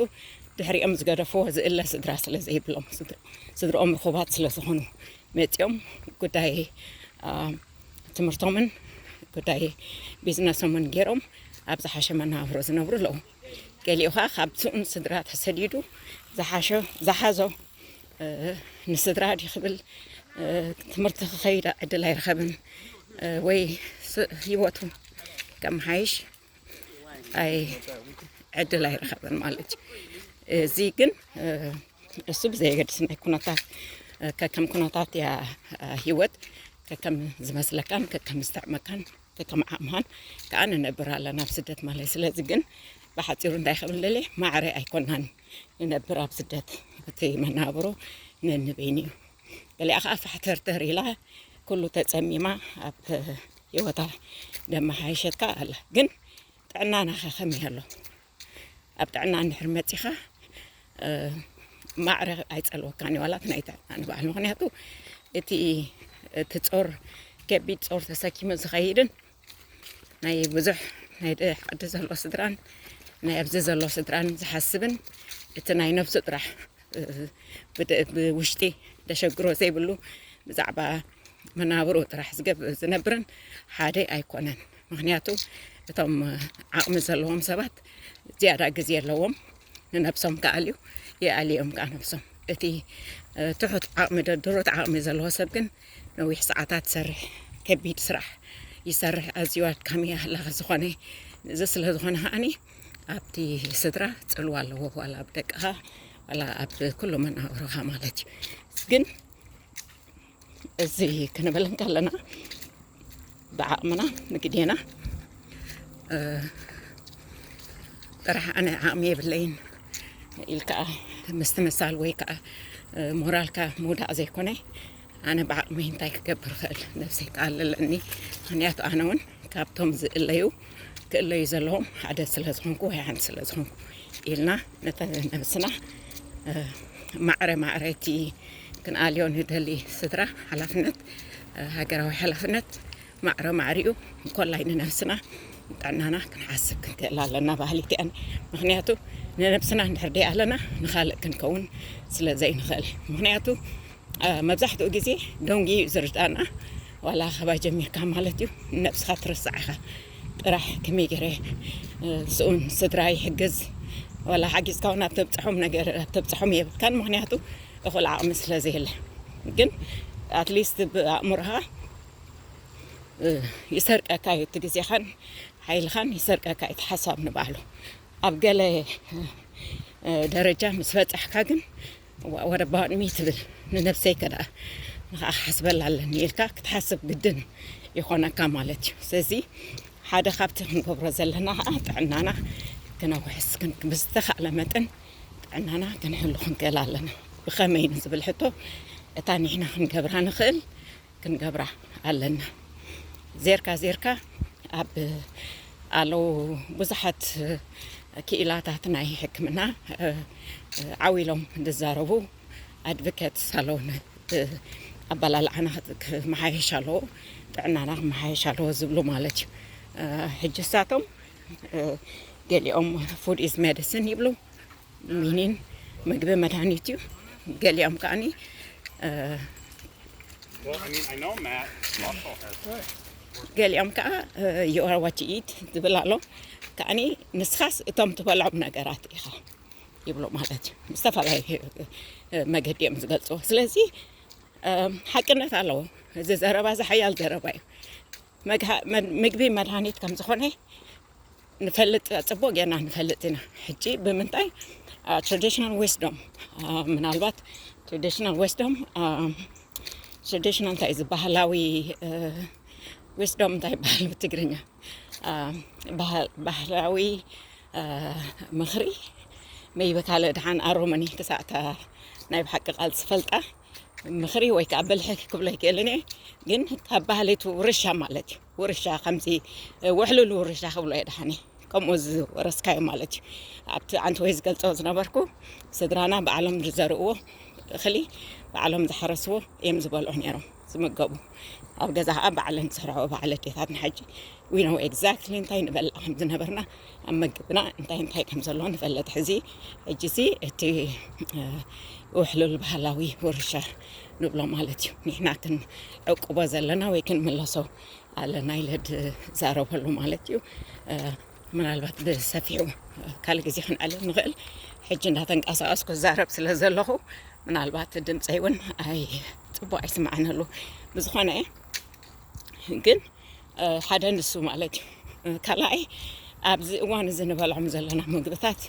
ድሕሪኦም ዝገደፍዎ ዝእለ ስድራ ስለ ዘይብሎም ስድርኦም ርኹባት ስለ ዝኾኑ መጺኦም ጉዳይ ትምህርቶምን ጉዳይ ቢዝነሶምን ጌሮም ኣብ ዝሓሸ መነባብሮ ዝነብሩ ኣለዉ ገሊኡ ኸኣ ካብ ስኡን ስድራ ተሰዲዱ ዝሓሸ ዝሓዞ ንስድራ ድዩ ክብል ትምህርቲ ክኸይድ ዕድል ኣይረኸብን ወይ ህይወቱ ከመሓይሽ ኣይ ዕድል ኣይረኸበን ማለት እዩ እዚ ግን እሱ ብዘየገድስ ናይ ኩነታት ከከም ኩነታት እያ ሂወት ከከም ዝመስለካን ከከም ዝተዕመካን ከከም ዓቕምኻን ከዓ ንነብር ኣለና ኣብ ስደት ማለት ስለዚ ግን ብሓፂሩ እንታይ ክብል ደልየ ማዕረ ኣይኮናን ንነብር ኣብ ስደት እቲ መናብሮ ነንበይኑ እዩ ገሊኣ ከዓ ፋሕተርተር ኢላ ኩሉ ተፀሚማ ኣብ ሂወታ ደማሓየሸትካ ኣላ ግን ጥዕናናከ ከመይ ኣሎ ኣብ ጥዕና እንድሕር መጺኻ ማዕረ ኣይጸልወካን እዩ ዋላት ናይ ጥዕና ንበዓል ምክንያቱ እቲ እቲ ጾር ከቢድ ጾር ተሰኪሙ ዝኸይድን ናይ ብዙሕ ናይ ዓዲ ዘሎ ስድራን ናይ ኣብዚ ዘሎ ስድራን ዝሓስብን እቲ ናይ ነብሱ ጥራሕ ብውሽጢ ደሸግሮ ዘይብሉ ብዛዕባ መናብሮ ጥራሕ ዝነብርን ሓደ ኣይኮነን። ምክንያቱ እቶም ዓቕሚ ዘለዎም ሰባት ዝያዳ ግዜ ኣለዎም ንነብሶም ክኣልዩ ይኣልዮም ከዓ ነብሶም። እቲ ትሑት ዓቕሚ ድሩት ዓቕሚ ዘለዎ ሰብ ግን ነዊሕ ሰዓታት ይሰርሕ፣ ከቢድ ስራሕ ይሰርሕ፣ ኣዝዩ ኣድካሚ ሃላኺ ዝኾነ እዚ ስለ ዝኾነ ከዓኒ ኣብቲ ስድራ ጽልዋ ኣለዎ ዋላ ኣብ ደቅኻ ዋላ ኣብ ኩሉ መናብሮኻ ማለት እዩ ግን እዚ ክንብል እንከለና ብዓቕምና ንግዴና ጥራሕ ኣነ ዓቕሚ የብለይን ኢልካ ምስ ትመሳል ወይ ከዓ ሞራልካ ምውዳቕ ዘይኮነ ኣነ ብዓቕመይ እንታይ ክገብር እኽእል ነብሰይ ክኣልለኒ ምኽንያቱ ኣነ እውን ካብቶም ዝእለዩ ክእለዩ ዘለዎም ሓደ ስለ ዝኾንኩ ወይ ሓንቲ ስለ ዝኾንኩ ኢልና ነተ ነብስና ማዕረ ማዕረ እቲ ክንኣልዮ ንደሊ ስድራ ሓላፍነት ሃገራዊ ሓላፍነት ማዕረ ማዕሪኡ እንኮላይ ንነብስና ጥዕናና ክንሓስብ ክንክእል ኣለና በሃሊት እየ ምክንያቱ ንነብስና እንድሕር ደይኣለና ንካልእ ክንከውን ስለ ዘይንክእል ምክንያቱ መብዛሕትኡ ግዜ ደንጉዩ እዩ ዝርዳእና ዋላ ካባይ ጀሚርካ ማለት እዩ ንነብስካ ትርስዓ ኢካ ጥራሕ ከመይ ገይረ ስኡን ስድራ ይሕግዝ ዋላ ሓጊዝካ እውን ኣብ ተብፅሖም ነገር ኣብ ተብፅሖም የብልካን ምክንያቱ እኩል ዓቅሚ ስለ ዘየለ ግን ኣትሊስት ብኣእምሮካ ይሰርቀካ እዩ እቲ ግዜኻን ሓይልኻን ይሰርቀካ እዩ እቲ ሓሳብ ንባዕሉ ኣብ ገለ ደረጃ ምስ በጻሕካ ግን ወረባሚ ትብል ንነብሰይ ከደኣ ንኸዓ ክሓስበላ ኣለኒ ኢልካ ክትሓስብ ግድን ይኾነካ ማለት እዩ ስለዚ ሓደ ካብቲ ክንገብሮ ዘለና ከዓ ጥዕናና ክነውሕስ ብዝተኻእለ መጠን ጥዕናና ክንሕሉ ክንክእል ኣለና ብኸመይ ንዝብል ሕቶ እታ ንሕና ክንገብራ ንኽእል ክንገብራ ኣለና ዜርካ ዜርካ ኣብ ኣለው ብዙሓት ክኢላታት ናይ ሕክምና ዓው ኢሎም ዝዛረቡ ኣድቮኬት ሳሎን ኣባላልዓና ክመሓየሽ ኣለዎ ጥዕናና ክመሓየሽ ኣለዎ ዝብሉ ማለት እዩ ሕጂ ሳቶም ገሊኦም ፉድ ኢዝ ሜዲሲን ይብሉ ሚኒን ምግቢ መድሃኒት እዩ ገሊኦም ከዓኒ ገሊኦም ከዓ የዋዋቲ ኢት ዝብል ኣሎ ከዓኒ ንስኻስ እቶም ትበልዖም ነገራት ኢኻ ይብሉ ማለት እዩ ዝተፈላለዩ መገዲ እዮም ዝገልፅዎ ስለዚ ሓቅነት ኣለዎ እዚ ዘረባ እዚ ሓያል ዘረባ እዩ ምግቢ መድሃኒት ከም ዝኾነ ንፈልጥ ጽቡቅ ጌርና ንፈልጥ ኢና ሕጂ ብምንታይ ትራዲሽናል ዊስዶም ምናልባት ትራዲሽናል ዊስዶም ትራዲሽናል እንታይ ዝበሃላዊ ዊስዶም እንታይ ይበሃል ብትግርኛ ባህላዊ ምኽሪ መይበካለ ድሓን ኣሮመኒ ክሳዕ እታ ናይ ብሓቂ ቃል ዝፈልጣ ምኽሪ ወይ ከዓ ብልሒ ክብሎ ኣይክእልን እየ ግን ካብ ባህሊቱ ውርሻ ማለት እዩ ውርሻ ከምዚ ውሕሉል ውርሻ ክብሎ እየ ድሓኒ ከምኡ ዝወረስካዮ ማለት እዩ ኣብቲ ዓንቲ ወይ ዝገልፆ ዝነበርኩ ስድራና ባዕሎም ዝዘርእዎ እኽሊ ባዕሎም ዝሓረስዎ እዮም ዝበልዑ ነይሮም ዝምገቡ ኣብ ገዛ ከዓ ባዕለን ዝሰርሐኦ በዓል ኣዴታትና ሕጂ ዊነው ኤግዛክትሊ እንታይ ንበልዕ ከም ዝነበርና ኣብ መግብና እንታይ እንታይ ከም ዘለዎ ንፈለጥ ሕዚ ሕጂ እዚ እቲ ውሕሉል ባህላዊ ውርሻ ንብሎ ማለት እዩ ንሕና ክንዕቅቦ ዘለና ወይ ክንምለሶ ኣለና ኢለ ዝዛረበሉ ማለት እዩ ምናልባት ብሰፊሑ ካልእ ግዜ ክንዕልል ንኽእል ሕጂ እንዳተንቀሳቀስኩ ክዛረብ ስለ ዘለኹ ምናልባት ድምፀይ እውን ኣይ ፅቡቅ ኣይስማዕነሉ ብዝኾነ ግን ሓደ ንሱ ማለት እዩ። ካልኣይ ኣብዚ እዋን እዚ ንበልዖም ዘለና ምግብታት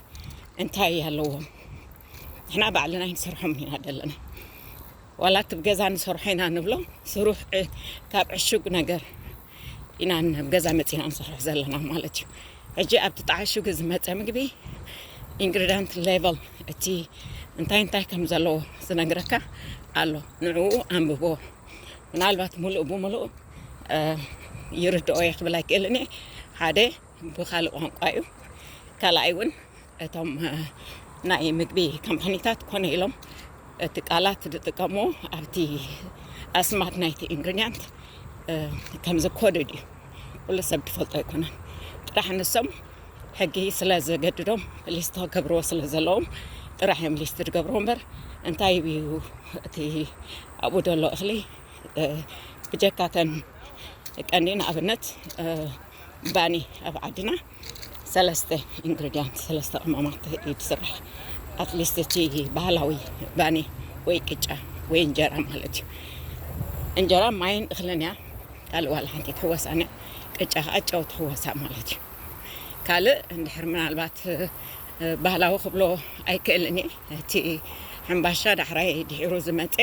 እንታይ ኣለዎም ንሕና ባዕልና ኣይንሰርሖም ኢና ዘለና ዋላ እቲ ገዛ ንሰርሖ ኢና ንብሎ ስሩሕ ካብ ዕሹግ ነገር ኢና ናብ ገዛ መፂና ንሰርሖ ዘለና ማለት እዩ ሕጂ ኣብቲ ተዓሽጉ ዝመፀ ምግቢ ኢንግሪዳንት ሌቨል እቲ እንታይ እንታይ ከም ዘለዎ ዝነግረካ ኣሎ ንዕኡ ኣንብቦ ምናልባት ሙሉእ ብሙሉእ ይርድኦ እየ ክብል ኣይክእልን እየ ሓደ ብካልእ ቋንቋ እዩ ካልኣይ እውን እቶም ናይ ምግቢ ካምፓኒታት ኮነ ኢሎም እቲ ቃላት ዝጥቀሙ ኣብቲ ኣስማት ናይቲ ኢንግሪዲያንት ከምዚ ኮድድ እዩ ኩሉ ሰብ ትፈልጦ ኣይኮነን ጥራሕ ንሶም ሕጊ ስለ ዘገድዶም ሊስት ክገብርዎ ስለ ዘለዎም ጥራሕ እዮም ሊስት ዝገብርዎ እምበር እንታይ እዩ እቲ ኣብኡ ዘሎ እኽሊ ብጀካ ተን ቀንዲ ንኣብነት ባኒ ኣብ ዓድና ሰለስተ ኢንግሪዲያንት ሰለስተ ቅመማት እዩ ዝስራሕ ኣትሊስት እቲ ባህላዊ ባኒ ወይ ቅጫ ወይ እንጀራ ማለት እዩ እንጀራ ማይን እኽልን እያ ካልእ ዋላ ሓንቲ ትሕወሳን እያ ቅጫ ከዓ ጨው ትሕወሳ ማለት እዩ ካልእ እንድሕር ምናልባት ባህላዊ ክብሎ ኣይክእልን እየ እቲ ሕምባሻ ዳሕራይ ድሒሩ ዝመፀ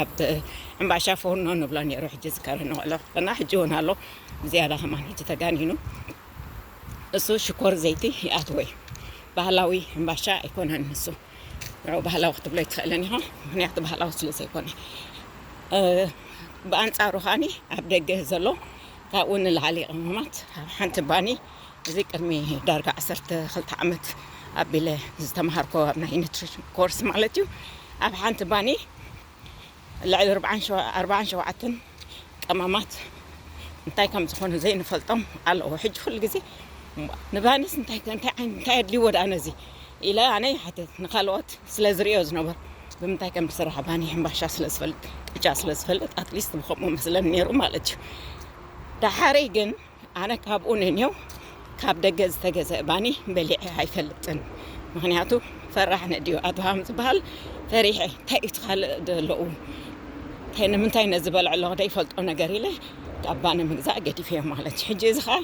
ኣብ ሕምባሻ ፎርኖ ንብሎ ነይሩ ሕጂ ዝከረ ንቆሎ እና ሕጂ እውን ኣሎ ዝያዳ ከማን ሕጂ ተጋኒኑ እሱ ሽኮር ዘይቲ ይኣትዎ እዩ ባህላዊ ሕምባሻ ኣይኮነን ንሱ ንዑ ባህላዊ ክትብሎ ኣይትኽእልን ኢኻ ምክንያቱ ባህላዊ ስለ ዘይኮነ ብኣንፃሩ ከዓኒ ኣብ ደገ ዘሎ ካብኡ ንላዕሊ ቅመማት ኣብ ሓንቲ ባኒ እዚ ቅድሚ ዳርጋ ዓሰርተ ክልተ ዓመት ኣቢለ ዝተምሃርኮ ኣብ ናይ ኒትሪሽን ኮርስ ማለት እዩ ኣብ ሓንቲ ባኒ ልዕሊ ኣርባዓን ሸውዓተን ቀመማት እንታይ ከም ዝኾኑ ዘይንፈልጦም ኣለዎ ሕጂ ኩሉ ግዜ ንባኒስ እንታይ እንታይ ዓይነት እንታይ ኣድልይዎ ደኣ ነዚ ኢለ ኣነ ይሓትት ንካልኦት ስለ ዝርእዮ ዝነበርኩ ብምንታይ ከም ዝስራሕ ባኒ ሕምባሻ ስለ ዝፈልጥ ቅጫ ስለ ዝፈልጥ ኣትሊስት ብከምኡ መስለኒ ነይሩ ማለት እዩ ዳሓረይ ግን ኣነ ካብኡ ንኔው ካብ ደገ ዝተገዘእ ባኒ በሊዐ ኣይፈልጥን ምክንያቱ ፈራሕ ነድዩ ኣድሃም ዝበሃል ፈሪሐ እንታይ እዩ ትካልእ ዘለዉ እንታይ ንምንታይ ነዚ በልዐ ኣለኹ ዘይፈልጦ ነገር ኢለ ካብ ባኒ ምግዛእ ገዲፈዮ ማለት እዩ ሕጂ እዚ ከዓ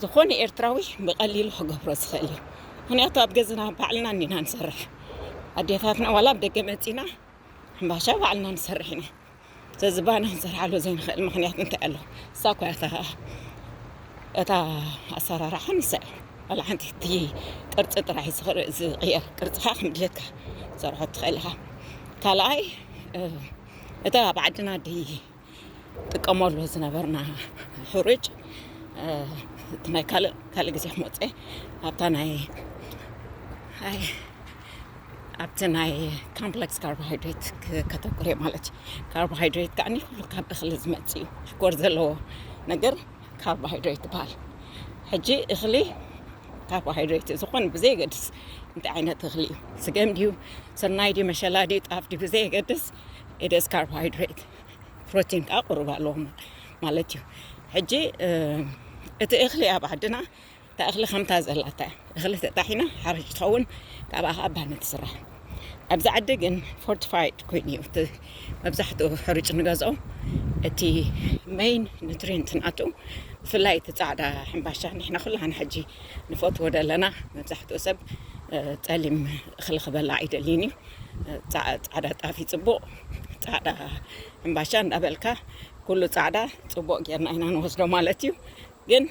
ዝኾነ ኤርትራዊ ብቐሊሉ ክገብሮ ዝኽእል እዩ ምክንያቱ ኣብ ገዝና ባዕልና እኒና ንሰርሕ ኣዴታትና ዋላ ኣብ ደገ መፂና ሕምባሻ ባዕልና ንሰርሕ ኢና ስለዚ ባና ክንሰርሓሉ ዘይንኽእል ምክንያት እንታይ ኣሎ እሳ እኳ እታ እታ ኣሰራርሓ ንሳ እዩ ዋላ ሓንቲ እቲ ቅርፂ ጥራሕ ዝቕየር ቅርፅኻ ከም ድሌትካ ሰርሖ ትኽእል ኢኻ ካልኣይ እታ ኣብ ዓድና ዲ ንጥቀመሉ ዝነበርና ሕሩጭ እቲ ናይ ካልእ ካልእ ግዜ ክመፀ ኣብታ ናይ ኣብቲ ናይ ካምፕለክስ ካርቦሃይድሬት ከተኩር እየ ማለት እዩ ካርቦሃይድሬት ከዓኒ ኩሉ ካብ እኽሊ ዝመፅ እዩ ሽኮር ዘለዎ ነገር ካርቦሃይድሬት ይበሃል ሕጂ እኽሊ ካርቦሃይድሬት እዩ ዝኾነ ብዘየገድስ እንታይ ዓይነት እኽሊ እዩ ስገም ድዩ ስርናይ ድዩ መሸላ ድዩ ጣፍ ድዩ ብዘየገድስ ኢትስ ካርቦሃይድሬት ፕሮቲን ከኣ ቁሩብ ኣለዎ ማለት እዩ ሕጂ እቲ እኽሊ ኣብ ዓድና እታ እኽሊ ከምታ ዘላታ እያ እኽሊ ተጣሒና ሓርሽ ትኸውን ካብኣ ከዓ ባኒ ትስራሕ ኣብዚ ዓዲ ግን ፎርቲፋይድ ኮይኑ እዩ እቲ መብዛሕትኡ ሕርጭ ንገዝኦ እቲ መይን ኒትሪንት ናቱ ብፍላይ እቲ ፃዕዳ ሕምባሻ ንሕና ኩላና ሕጂ ንፈትዎ ዘለና መብዛሕትኡ ሰብ ፀሊም እኽሊ ክበላ ኣይደልይን እዩ ፃዕዳ ጣፍ ፅቡቕ ፃዕዳ ሕምባሻ እንዳበልካ ኩሉ ፃዕዳ ፅቡቕ ጌርና ኢና ንወስዶ ማለት እዩ ግን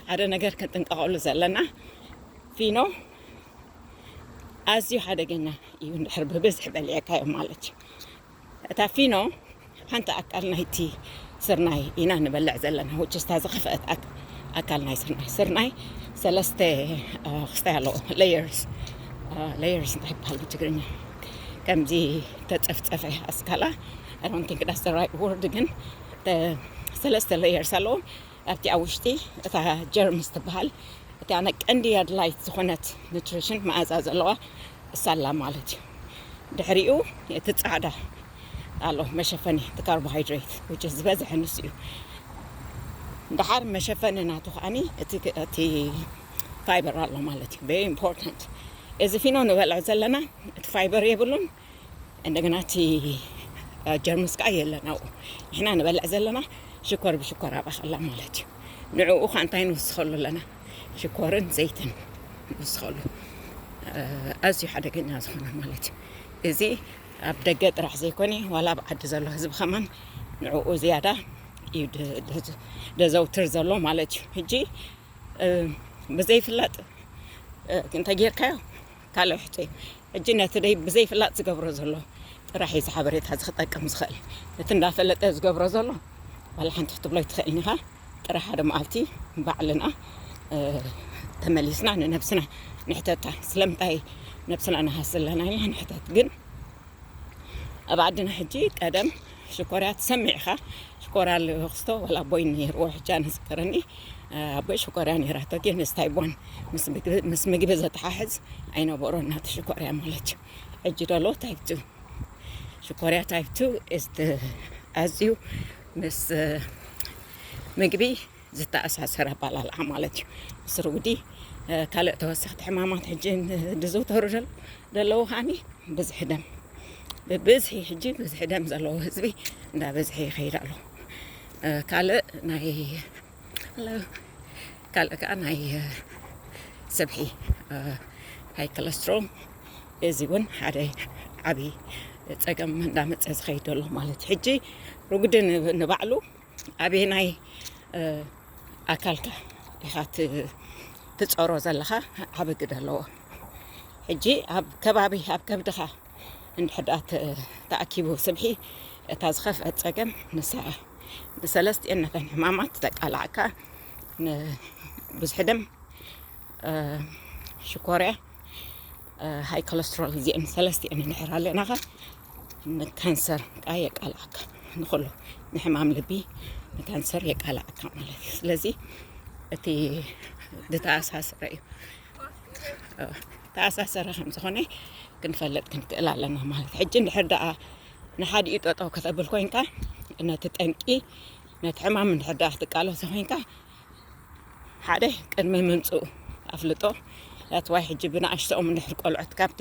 ሓደ ነገር ክንጥንቀቐሉ ዘለና ፊኖ ኣዝዩ ሓደገኛ እዩ እንድሕር ብብዝሒ በሊዕካዮ ማለት እዩ እታ ፊኖ ሓንቲ ኣካል ናይቲ ስርናይ ኢና ንበልዕ ዘለና which is እታ ዝኸፍአት ኣካል ናይ ስርናይ ስርናይ ሰለስተ ክስታይ ኣለዎ layers layers እንታይ ይበሃል ብትግርኛ ከምዚ ተጸፍጸፈ ኣስካላ I don't think that's the right word ግን ሰለስተ layers ኣለዎ ኣብቲ ኣብ ውሽጢ እታ ጀርምስ ትበሃል እቲ ኣነ ቀንዲ ኣድላይት ዝኾነት ኒትሪሽን መኣዛ ዘለዋ እሳላ ማለት እዩ ድሕሪኡ እቲ ፃዕዳ ኣሎ መሸፈኒ እቲ ካርቦሃይድሬት ውጭ ዝበዝሐ ንሱ እዩ ድሓር መሸፈኒ ናቱ ከዓኒ እቲ ፋይበር ኣሎ ማለት እዩ ቨሪ ኢምፖርታንት እዚ ፊኖ ንበልዖ ዘለና እቲ ፋይበር የብሉን እንደገና እቲ ጀርምስ ከዓ የለን ኣብኡ ንሕና ንበልዕ ዘለና ሽኮር ብሽኮር ኣብኣ ከላ ማለት እዩ ንዕኡ ከዓ እንታይ ንውስኸሉ ኣለና ሽኮርን ዘይትን ንውስኸሉ ኣዝዩ ሓደገኛ ዝኾነ ማለት እዩ እዚ ኣብ ደገ ጥራሕ ዘይኮነ ዋላ ኣብ ዓዲ ዘሎ ህዝቢ ከማን ንዕኡ ዝያዳ እዩ ደዘውትር ዘሎ ማለት እዩ ሕጂ ብዘይፍላጥ እንተጌርካዮ ካልእ ሕቶ እዩ ሕጂ ነቲ ደይ ብዘይፍላጥ ዝገብሮ ዘሎ ጥራሕ እዩ ዝሓበሬታ እዚ ክጠቅም ዝኽእል እቲ እንዳፈለጠ ዝገብሮ ዘሎ ዋላ ሓንቲ ክትብሎ ኣይትኽእልን ኢኻ ጥረ ሓደ መዓልቲ ባዕልና ተመሊስና ንነብስና ንሕተታ ስለምንታይ ነብስና ንሃስ ዘለና ኢልና ንሕተት ግን ኣብ ዓድና ሕጂ ቀደም ሽኮርያ ትሰምዕ ኢኻ ሽኮርያ ልክስቶ ዋላ ኣቦይ ነይርዎ ሕጂ ኣነ ዝከረኒ ኣቦይ ሽኮርያ ነይራቶ ግን ምስታይ ቦን ምስ ምግቢ ዘተሓሕዝ ኣይነበሮ እናተ ሽኮርያ ማለት እዩ ሕጂ ደሎ ታይቱ ሽኮርያ ታይቱ ኣዝዩ ምስ ምግቢ ዝተኣሳሰረ ኣባላልዓ ማለት እዩ ምስ ርጉዲ ካልእ ተወሰኽቲ ሕማማት ሕጂ ዝዝውተሩ ዘለዉ ከዓኒ ብዝሒ ደም ብብዝሒ ሕጂ ብዝሒ ደም ዘለዎ ህዝቢ እንዳበዝሐ ይኸይድ ኣሎ ካልእ ናይ ካልእ ከዓ ናይ ስብሒ ሃይ ኮለስትሮም እዚ እውን ሓደ ዓብዪ ፀገም እንዳመፀ ዝኸይድ ኣሎ ማለት እዩ ሕጂ ርጉዲ ንባዕሉ ኣበየናይ ኣካልካ ኢኻ ትፀሮ ዘለኻ ዓብ ግደ ኣለዎ ሕጂ ኣብ ከባቢ ኣብ ከብድኻ እንድሕር ደኣ ተኣኪቡ ስብሒ እታ ዝኸፍአት ጸገም ንሳ እያ ብሰለስቲኤን ነተን ሕማማት ተቃላዕካ ንብዝሒ ደም ሽኮርያ ሃይ ኮለስትሮል እዚኤን ሰለስቲኤን እንድሕር ኣለናኻ ንካንሰር ከዓ የቃላዕካ ንኩሉ ንሕማም ልቢ ንካንሰር የቃላዕካ ማለት እዩ ስለዚ እቲ ዝተኣሳሰረ እዩ ተኣሳሰሪ ከም ዝኾነ ክንፈልጥ ክንክእል ኣለና ማለት እዩ። ሕጂ እንድሕር ደኣ ንሓዲኡ ጠጠው ከተብል ኮንካ ነቲ ጠንቂ ነቲ ሕማም እንድሕር ደኣ ክትቃለሶ ኮንካ ሓደ ቅድሚ ምምፅኡ ኣፍልጦ ኣትዋይ ሕጂ ብንኣሽተኦም እንድሕር ቆልዑት ካብቲ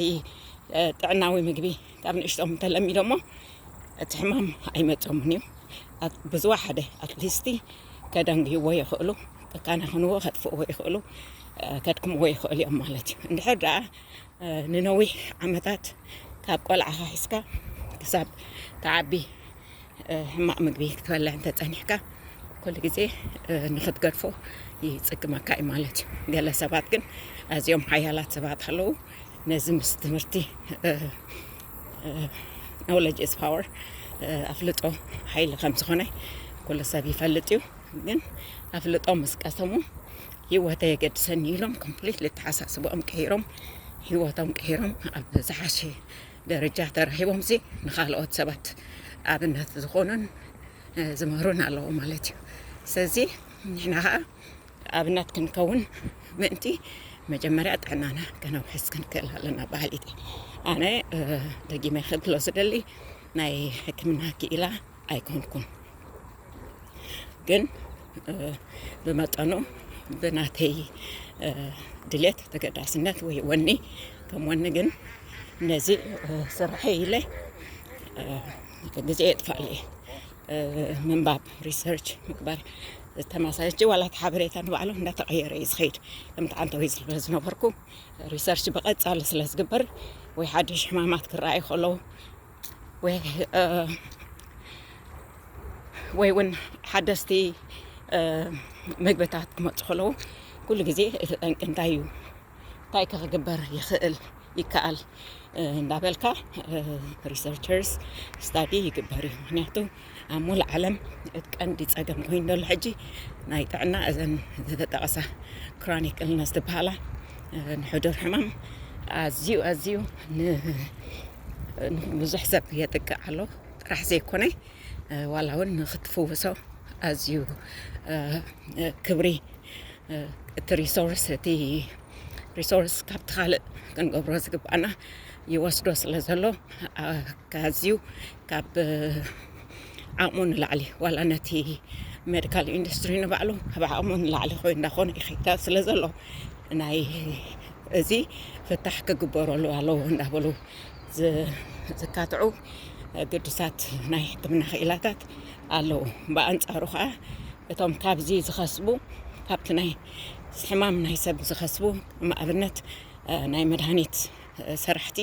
ጥዕናዊ ምግቢ ካብ ንእሽቶም እንተለሚዶሞ እቲ ሕማም ኣይመፆምን እዩ ብዙ ሓደ ኣትሊስቲ ከደንግይዎ ይኽእሉ፣ ከካናኽንዎ ከጥፍእዎ ይኽእሉ፣ ከድክምዎ ይኽእሉ እዮም ማለት እዩ። እንድሕር ደኣ ንነዊሕ ዓመታት ካብ ቆልዓ ሒዝካ ክሳብ ትዓቢ ሕማቕ ምግቢ ክትበልዕ እንተፀኒሕካ ኩሉ ግዜ ንክትገድፎ ይፅግመካ እዩ ማለት እዩ። ገለ ሰባት ግን ኣዝዮም ሓያላት ሰባት ኣለዉ ነዚ ምስ ትምህርቲ ኖለጅ ኢዝ ፓወር ኣፍልጦ ሓይሊ ከም ዝኾነ ኩሉ ሰብ ይፈልጥ እዩ ግን ኣፍልጦ ምስ ቀሰሙ ሂወተ የገድሰኒ ኢሎም ኮምፕሊት ልተሓሳስቦኦም ቀይሮም ሂወቶም ቀይሮም ኣብ ዝሓሸ ደረጃ ተረኪቦም ሲ ንካልኦት ሰባት ኣብነት ዝኾኑን ዝምህሩን ኣለዎ ማለት እዩ ስለዚ ንሕና ከዓ ኣብነት ክንከውን ምእንቲ መጀመርያ ጥዕናና ከነውሕስ ክንክእል ኣለና በሃሊት እየ። ኣነ ደጊመ ክብሎ ዝደሊ ናይ ሕክምና ክኢላ ኣይኮንኩን፣ ግን ብመጠኑ ብናተይ ድሌት ተገዳስነት ወይ ወኒ ከም ወኒ ግን ነዚ ስርሐ ኢለ ግዜ የጥፋእ እየ። ምንባብ ሪሰርች ምግባር ተመሳሳሊ ሕጂ ዋላ እቲ ሓበሬታ ንባዕሉ እንዳተቐየረ እዩ ዝኸይድ ከምቲ ዓንተዊ ዝብሎ ዝነበርኩ ሪሰርች ብቐጻሊ ስለ ዝግበር ወይ ሓድሽ ሕማማት ክረኣዩ ከለዉ ወይ እ፣ ወይ እውን ሓደስቲ እ፣ ምግብታት ክመፁ ከለዉ ኩሉ ግዜ እቲ ጠንቂ እንታይ እዩ እንታይ ከ ክግበር ይኽእል ይከኣል እንዳበልካ ሪሰርቸርስ ስታዲ ይግበር እዩ ምክንያቱ ኣብ ሙሉ ዓለም እቲ ቀንዲ ፀገም ኮይኑ ዘሎ ሕጂ ናይ ጥዕና እዘን ዝተጠቐሳ ክሮኒክ እልነስ ዝበሃላ ንሕዱር ሕማም ኣዝዩ ኣዝዩ ንብዙሕ ሰብ የጥቅዕ ኣሎ ጥራሕ ዘይኮነ ዋላ እውን ንክትፍውሶ ኣዝዩ ክብሪ እቲ ሪሶርስ እቲ ሪሶርስ ካብቲ ካልእ ክንገብሮ ዝግባኣና ይወስዶ ስለ ዘሎ ኣዝዩ ካብ ዓቕሙ ንላዕሊ ዋላ ነቲ ሜዲካል ኢንዱስትሪ ንባዕሉ ካብ ዓቕሙ ንላዕሊ ኮይ እንዳኾነ ይኸይዳ ስለ ዘሎ ናይ እዚ ፍታሕ ክግበረሉ ኣለዎ እንዳበሉ ዝካትዑ ግዱሳት ናይ ሕክምና ክኢላታት ኣለዉ ብኣንጻሩ ከዓ እቶም ካብዚ ዝኸስቡ ካብቲ ናይ ሕማም ናይ ሰብ ዝኸስቡ ንኣብነት ናይ መድሃኒት ሰራሕቲ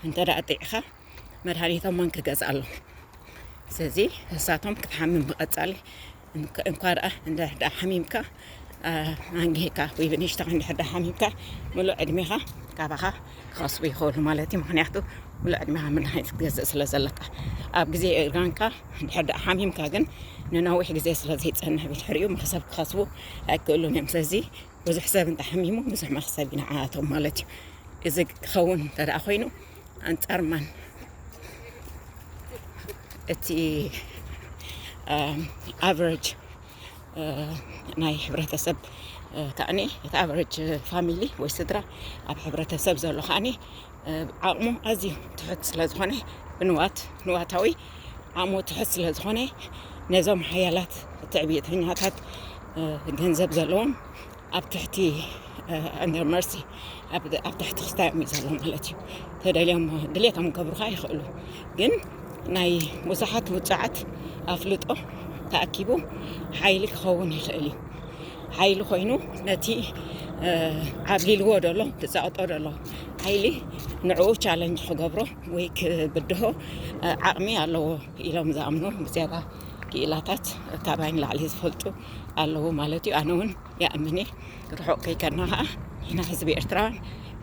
እንተ ደኣ ጥዕኻ መድሃኒቶም መን ክገዝኣሎም ስለዚ ንሳቶም ክትሓምም ብቐጻሊ እንኳ ደኣ እንድሕር ደኣ ሓሚምካ ኣንጊህካ ወይ ብንእሽተኻ እንድሕር ደኣ ሓሚምካ ምሉእ ዕድሜኻ ካባኻ ክኸስቡ ይኽእሉ ማለት እዩ ምክንያቱ ምሉእ ዕድሜኻ መድሃኒት ክትገዝእ ስለ ዘለካ ኣብ ግዜ እርጋንካ እንድሕር ደኣ ሓሚምካ ግን ንነዊሕ ግዜ ስለ ዘይጸንሕ ብድሕሪኡ መኽሰብ ክኸስቡ ኣይክእሉን እዮም ስለዚ ብዙሕ ሰብ እንተሓሚሙ ብዙሕ መኽሰብ ይንዓኣቶም ማለት እዩ እዚ ክኸውን እንተ ኮይኑ ኣንጻር ማን እቲ ኣቨረጅ ናይ ሕብረተሰብ ከዓኒ እቲ ኣቨረጅ ፋሚሊ ወይ ስድራ ኣብ ሕብረተሰብ ዘሎ ከዓኒ ዓቕሙ ኣዝዩ ትሑት ስለ ዝኾነ ብንዋት ንዋታዊ ዓቕሙ ትሑት ስለ ዝኾነ ነዞም ሓያላት ትዕብየተኛታት ገንዘብ ዘለዎም ኣብ ትሕቲ ኣንደር መርሲ ኣብ ትሕቲ ክስታዮም እዩ ዘሎ ማለት እዩ ተደልዮም ድሌቶም ክገብሩካ ይኽእሉ ግን ናይ ብዙሓት ውፅዓት ኣፍልጦ ተኣኪቡ ሓይሊ ክኸውን ይኽእል እዩ ሓይሊ ኮይኑ ነቲ ዓብሊልዎ ደሎ ትፃወጦ ደሎ ሓይሊ ንዕኡ ቻለንጅ ክገብሮ ወይ ክብድሆ ዓቕሚ ኣለዎ ኢሎም ዝኣምኑ ብዝያዳ ክኢላታት ካባይ ንላዕሊ ዝፈልጡ ኣለዉ ማለት እዩ ኣነ እውን ይኣምን እየ ርሑቕ ከይከድና ከዓ ኢና ህዝቢ ኤርትራውያን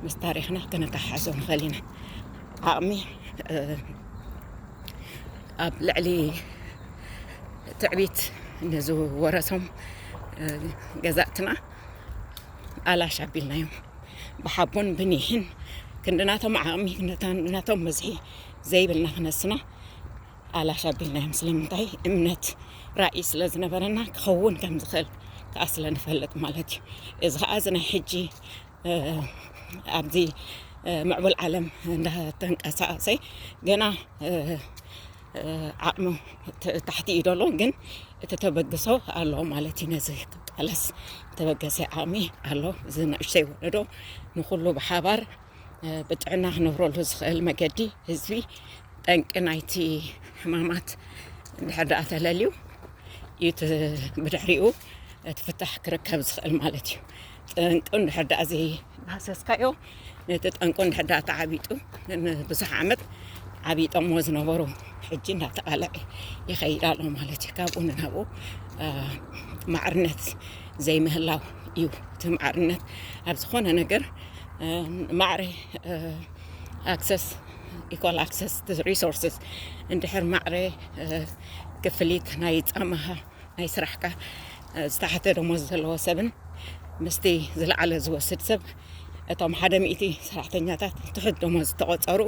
ምስ ታሪኽና ከነተሓሓዞ ንኽእል ኢና ዓቕሚ ኣብ ልዕሊ ትዕቢት ንዝወረሶም ገዛእትና ኣላሽ ኣቢልናዮም ብሓቦን ብኒሕን ክንድናቶም ዓቕሚ ክንድናቶም ብዝሒ ዘይብልና ክነስና ኣላሽ ኣቢልናዮም ስለምንታይ እምነት ራኢ ስለ ዝነበረና ክኸውን ከም ዝኽእል ከዓ ስለ ንፈልጥ ማለት እዩ እዚ ከዓ እዚ ናይ ሕጂ ኣብዚ ምዕቡል ዓለም እንዳተንቀሳቀሰ ገና ዓቕሚ ታሕቲ እዩ ደሎ ግን እቲ ተበግሶ ኣሎ ማለት እዩ ነዚ ክቃለስ ተበገሰ ዓቕሚ ኣሎ እዚ ንእሽተይ ወለዶ ንኩሉ ብሓባር ብጥዕና ክነብረሉ ዝኽእል መገዲ ህዝቢ ጠንቂ ናይቲ ሕማማት እንድሕር ደኣ ተለልዩ እዩ እቲ ብድሕሪኡ እቲ ፍታሕ ክርከብ ዝኽእል ማለት እዩ ጠንቁ እንድሕር ደኣ ዘይዳህሰስካዮ ነቲ ጠንቁ እንድሕር ደኣ ተዓቢጡ ንብዙሕ ዓመት ዓቢጦሞ ዝነበሩ ሕጂ እንዳተቓልዐ ይኸይድ ኣሎ ማለት እዩ ካብኡ ንናብኡ ማዕርነት ዘይምህላው እዩ እቲ ማዕርነት ኣብ ዝኾነ ነገር ማዕረ ኣክሰስ ኢኳል ኣክሰስ ሪሶርስስ እንድሕር ማዕረ ክፍሊት ናይ ጻማኻ ናይ ስራሕካ ዝተሓተ ደሞዝ ዘለዎ ሰብን ምስቲ ዝለዓለ ዝወስድ ሰብ እቶም ሓደ ሚእቲ ሰራሕተኛታት ትሑት ደሞዝ ዝተቆጸሩ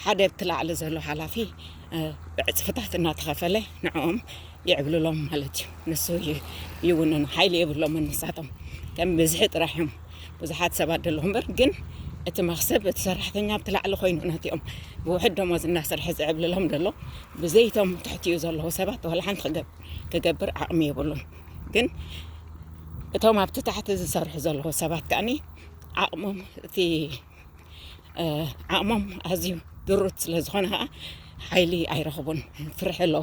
ሓደ እቲ ላዕሊ ዘሎ ሓላፊ ብዕጽፍታት እናተኸፈለ ንዕኦም የዕብልሎም ማለት እዩ ንሱ ይውንኑ ሓይሊ የብሎምን ንሳቶም ከም ብዝሒ ጥራሕ እዮም ብዙሓት ሰባት ደለኹ እምበር ግን እቲ መክሰብ እቲ ሰራሕተኛ ኣብቲ ላዕሊ ኮይኑ ነቲኦም ብውሕድ ደሞዝ እናሰርሐ ዝዕብልሎም ደሎ ብዘይቶም ትሕትኡ ዘለዉ ሰባት ዋላ ሓንቲ ክገብር ዓቕሚ የብሉን ግን እቶም ኣብቲ ታሕቲ ዝሰርሑ ዘለዉ ሰባት ከዓኒ ዓቕሞም እቲ ዓቕሞም ኣዝዩ ድሩት ስለ ዝኾነ ኸዓ ሓይሊ ኣይረኽቡን ፍርሒ ኣሎ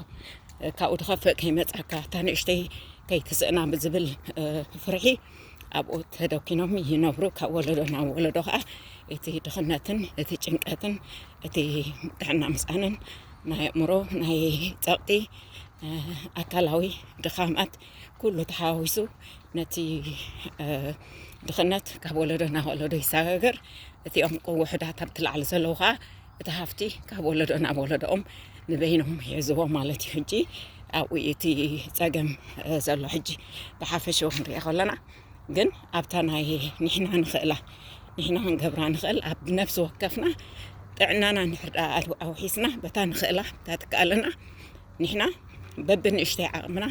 ካብኡ ድኸፍእ ከይመጻካ እታ ንእሽተይ ከይትስእና ብዝብል ፍርሒ ኣብኡ ተደኪኖም ይነብሩ ካብ ወለዶ ናብ ወለዶ ከዓ እቲ ድኽነትን እቲ ጭንቀትን እቲ ጥዕና ምስኣንን ናይ ኣእምሮ ናይ ጸቕጢ ኣካላዊ ድኻማት ኩሉ ተሓዋዊሱ ነቲ ድኽነት ካብ ወለዶ ናብ ወለዶ ይሰጋገር እቲኦም ውሑዳት ኣብቲ ላዕሊ ዘለዉ ከዓ እቲ ሃፍቲ ካብ ወለዶ ናብ ወለዶኦም ንበይኖም ይሕዝዎ ማለት እዩ ሕጂ ኣብኡ እቲ ፀገም ዘሎ ሕጂ ብሓፈሽኡ ክንሪኦ ከለና ግን ኣብታ ናይ ንሕና ንኽእላ ንሕና ክንገብራ ንኽእል ኣብ ነብሲ ወከፍና ጥዕናና ንሕርዳ ኣውሒስና በታ ንኽእላ እታ ትከኣለና ንሕና በብንእሽተይ ዓቕምና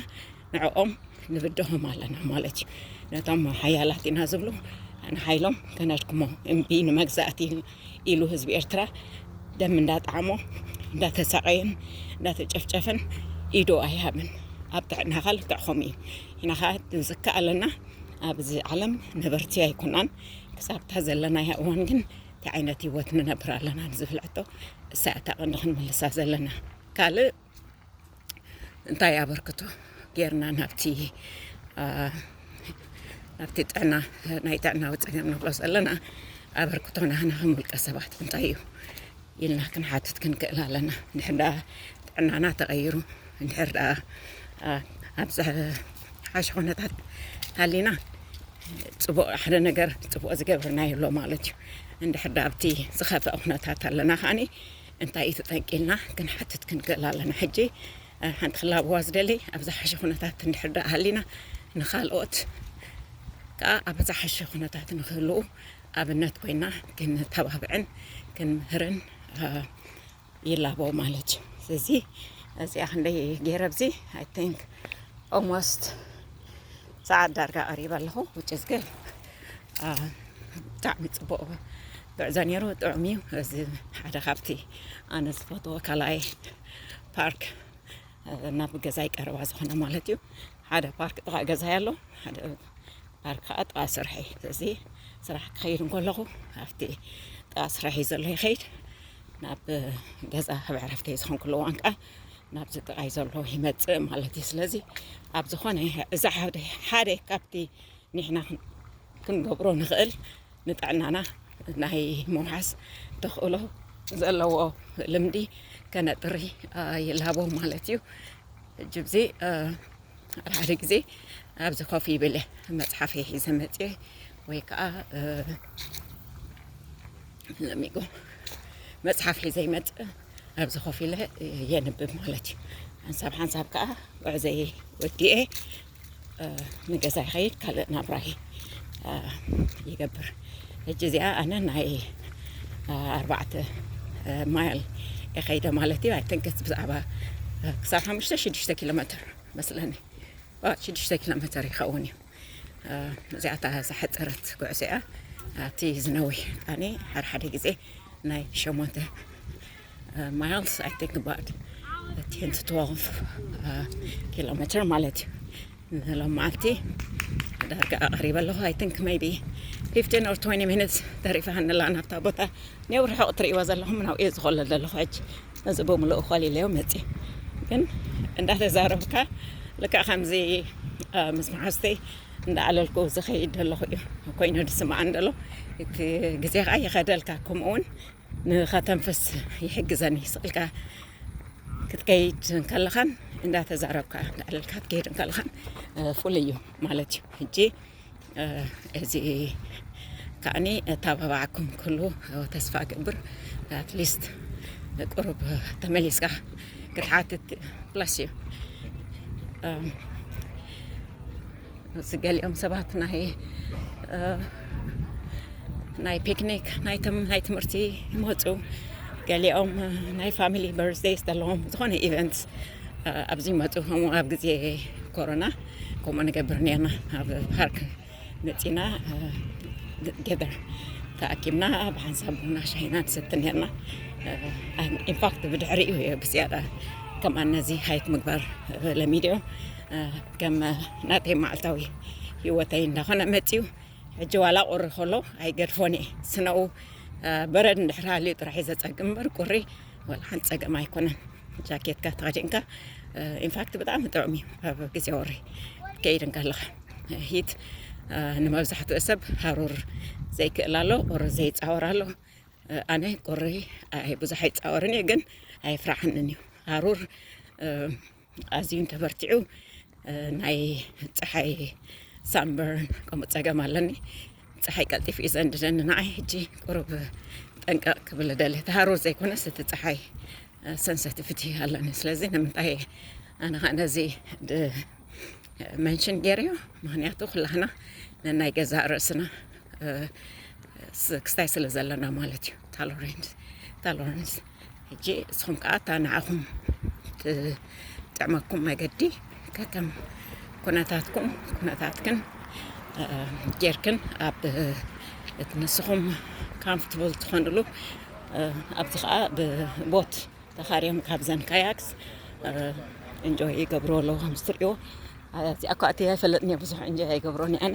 ንዕኦም ንብድሆም ኣለና ማለት እዩ ነቶም ሓያላት ኢና ዝብሉ ንሓይሎም ከነድክሞ እምቢ ንመግዛእቲ ኢሉ ህዝቢ ኤርትራ ደም እንዳጣዕሞ እንዳተሳቐየን እንዳተጨፍጨፈን ኢዶ ኣይሃብን ኣብ ጥዕናኻ ልክዕኹም እዩ ኢና ኸዓ ዝከኣለና ኣብዚ ዓለም ነበርቲ ኣይኮናን ክሳብታ ዘለናያ እዋን ግን እንታይ ዓይነት ህይወት ንነብር ኣለና ንዝብል ሕቶ እሳ እታ ቐንዲ ክንምልሳ ዘለና ካልእ እንታይ ኣበርክቶ ጌርና ናብቲ ናብቲ ጥዕና ናይ ጥዕናዊ ፀገም ንብሎ ዘለና ኣበርክቶ ናህና ከም ውልቀ ሰባት እንታይ እዩ ኢልና ክንሓትት ክንክእል ኣለና ንሕዳ ጥዕናና ተቐይሩ እንድሕር ደኣ ኣብ ዝሓሸ ኩነታት ሃሊና ፅቡቕ ሓደ ነገር ፅቡቕ ዝገብርና ኣሎ ማለት እዩ እንድሕር ደኣ ኣብቲ ዝኸፍአ ኩነታት ኣለና ከዓኒ እንታይ እዩ እቲ ጠንቂ ኢልና ክንሓትት ክንክእል ኣለና። ሕጂ ሓንቲ ክላበዋ ዝደሊ ኣብ ዝሓሸ ኩነታት እንድሕር ደኣ ሃሊና ንኻልኦት ከኣ ኣብ ዝሓሸ ኩነታት ንክህልው ኣብነት ኮይና ክንተባብዕን ክንምህርን ይላበው ማለት እዩ። ስለዚ እዚኣ ክንደይ ገይረ ኣብዚ ኣይ ቲንክ ኦልሞስት ሰዓት ዳርጋ ቀሪበ ኣለኹ ውጭ ዝገል ብጣዕሚ ፅቡቅ ጉዕዞ ነይሩ ጥዑም እዩ እዚ ሓደ ካብቲ ኣነ ዝፈትዎ ካልኣይ ፓርክ ናብ ገዛይ ቀረባ ዝኾነ ማለት እዩ ሓደ ፓርክ ጥቃ ገዛይ ኣሎ ሓደ ፓርክ ከዓ ጥቃ ስርሐይ እዚ ስራሕ ክኸይድ እንከለኹ ኣብቲ ጥቃ ስርሐይ ዘሎ ይኸይድ ናብ ገዛ ኣብ ዕረፍቲ ዝኾንኩሉ እዋን ከዓ ናብዚ ጥቃይ ዘሎ ይመፅእ ማለት እዩ ስለዚ ኣብ ዝኾነ እዚ ሓደ ካብቲ ንሕና ክንገብሮ ንኽእል ንጥዕናና ናይ ምውሓስ ተኽእሎ ዘለዎ ልምዲ ከነጥሪ ይላቦም ማለት እዩ ሕጂ ብዚ ሓደ ግዜ ኣብዚ ኮፍ ይብል መፅሓፍ ሒዘ መፅኤ ወይ ከዓ ለሚጎ መፅሓፍ ሒዘ ይመፅእ ኣብዚ ኮፍ ኢለ የንብብ ማለት እዩ ሓንሳብ ሓንሳብ ከዓ ጉዕዘየ ወዲኤ ንገዛ ይኸይድ ካልእ ናብራ ይገብር ሕጂ እዚኣ ኣነ ናይ ኣርባዕተ ማይል የኸይደ ማለት እዩ ኣይትንክስ ብዛዕባ ክሳብ ሓሙሽተ ሽዱሽተ ኪሎ ሜትር መስለኒ ሽዱሽተ ኪሎ ሜትር ይኸውን እዩ እዚኣ እታ ዝሓፀረት ጉዕዞ እያ እቲ ዝነዊሕ ኣነ ሓድሓደ ግዜ ናይ ሸሞንተ ማይልስ ኣይ ቲንክ ኣባውት ቴን ቱ ትወልቭ ኪሎ ሜትር ማለት እዩ ንሎማዓልቲ ዳርጋ ኣቕሪበ ኣለኹ ኣይ ቲንክ ሜይቢ ፊፍቲን ኦር ትወኒ ሚኒትስ ተሪፋኒ ኣላ ናብታ ቦታ ኔው ርሑቕ እትርእይዎ ዘለኹም ናብኡ እየ ዝኾለል ዘለኹ ሕጂ እዚ ብምልኡ ኮሊለዮ መፅእ ግን እንዳተዛረብካ ልክዕ ከምዚ ምስ መሓዝተይ እንዳዓለልኩ ዝኸይድ ዘለኹ እዩ ኮይኑ ዝስምዓኒ ዘሎ እቲ ግዜ ከዓ ይኸደልካ ከምኡ እውን ንኸተንፍስ ይሕግዘኒ ስቕ ኢልካ ክትከይድ እንከለኻን እንዳተዛረብካ ልዕል ኢልካ ክትከይድ እንከለኻን ፍሉይ እዩ ማለት እዩ ሕጂ እዚ ከዓኒ ታባባዓኩም ክሉ ተስፋ ገብር ኣትሊስት ቁሩብ ተመሊስካ ክትሓትት ፕላስ እዩ እዚ ገሊኦም ሰባት ናይ ናይ ፒክኒክ ናይ ትምህርቲ ይመፁ ገሊኦም ናይ ፋሚሊ በርዝደይስ ዘለዎም ዝኾነ ኢቨንትስ ኣብዚ ይመፁ ከምኡ ኣብ ግዜ ኮሮና ከምኡ ንገብር ነርና ኣብ ፓርክ መፂና ገደር ተኣኪብና ብሓንሳብ ቡና ሻሂና ንሰቲ ነርና ኢንፋክት ብድሕሪኡ እየ ብዝያዳ ከምኣ ነዚ ሃይክ ምግባር ለሚደዮ ከም ናተይ መዓልታዊ ሂወተይ እንዳኾነ መፅዩ ሕጂ ዋላ ቁሪ ከሎ ኣይገድፎን እየ ስነኡ በረድ እንድሕር ሃልዩ ጥራሕ እዩ ዘፀግም እምበር ቁሪ ዋላ ሓንቲ ፀገም ኣይኮነን ጃኬትካ ተኸዲንካ ኢንፋክት ብጣዕሚ ጥዑም እዩ ኣብ ግዜ ወሪ ከይድ እንከለኻ ሂት ንመብዛሕትኡ ሰብ ሃሩር ዘይክእል ኣሎ ቁሪ ዘይፃወር ኣሎ ኣነ ቁሪ ብዙሕ ኣይፃወርን እየ ግን ኣይፍራሕንን እዩ ሃሩር ኣዝዩ እንተበርቲዑ ናይ ፀሓይ ሳንበርን ከምኡ ፀገም ኣለኒ ፀሓይ ቀልጢፉ እዩ ዘንድደኒ ንዓይ ሕጂ ቁሩብ ጠንቀቕ ክብል ደለ እቲ ሃሩር ዘይኮነስ እቲ ፀሓይ ሰንሰቲቪቲ ኣለኒ ስለዚ ንምንታይ ኣነ ከዓ ነዚ መንሽን ገይረዮ ምክንያቱ ኩላህና ነናይ ገዛእ ርእስና ክስታይ ስለ ዘለና ማለት እዩ ታሎሬንስ ሕጂ እስኹም ከዓ እታ ንዓኹም ትጥዕመኩም መገዲ ከከም ኩነታትኩም ኩነታትክን ጌርክን ኣብ እቲ ንስኹም ካምፍትብል ትኾንሉ ኣብዚ ከዓ ብቦት ተኻርዮም ካብዘን ካያክስ እንጆይ ይገብሩ ኣለዉ ከምዝትሪእዎ እዚኣ እኳ እቲ ኣይፈለጥን እየ ብዙሕ እንጆይ ኣይገብሮን እየ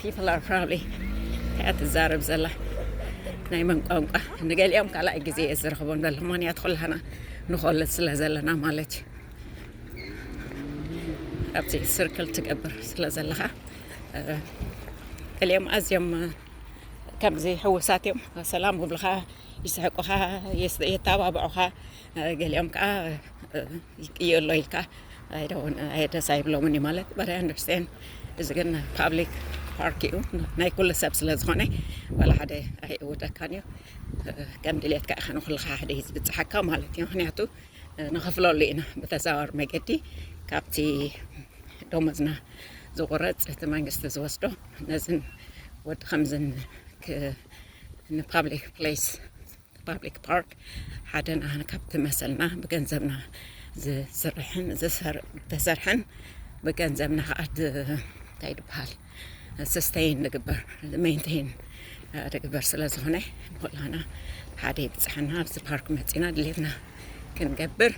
ፒፕል ኣር ፕራውድሊ እንታይ እያ ትዛረብ ዘላ ናይ መን ቋንቋ ንገሊኦም ካልኣይ ግዜ እየ ዝረኽቦም ዘሎ ምክንያት ኩላና ንኮለጅ ስለ ዘለና ማለት እዩ ኣብዚ ስርክል ትገብር ስለ ዘለኻ ገሊኦም ኣዝዮም ከምዚ ሕውሳት እዮም ሰላም ውብልኻ ይስሕቁኻ የተባብዑኻ ገሊኦም ከዓ ይቅየሎ ኢልካ ደስ ኣይብሎምን እዩ ማለት በት ኣይ ኣንደርስታንድ እዚ ግን ፓብሊክ ፓርክ እዩ ናይ ኩሉ ሰብ ስለ ዝኾነ ዋላ ሓደ ኣይእውተካን እዩ ከም ድሌትካ ኢኻ ንኩልካ ሓደ እዩ ዝብፅሓካ ማለት እዩ ምክንያቱ ንኸፍለሉ ኢና ብተዘዋዋሪ መገዲ ካብቲ ደሞዝና ዝቑረፅ እቲ መንግስቲ ዝወስዶ ነዝን ወዲ ከምዝን ንፓብሊክ ፕሌስ ፓብሊክ ፓርክ ሓደ ናህና ካብቲ መሰልና ብገንዘብና ዝስርሕን ዝተሰርሐን ብገንዘብና ከዓ እንታይ ድበሃል ስስተይን ዝግበር ሜንቴን ድግበር ስለ ዝኾነ ንኩላና ሓደ ይብፅሐና ኣብዚ ፓርክ መፂና ድሌትና ክንገብር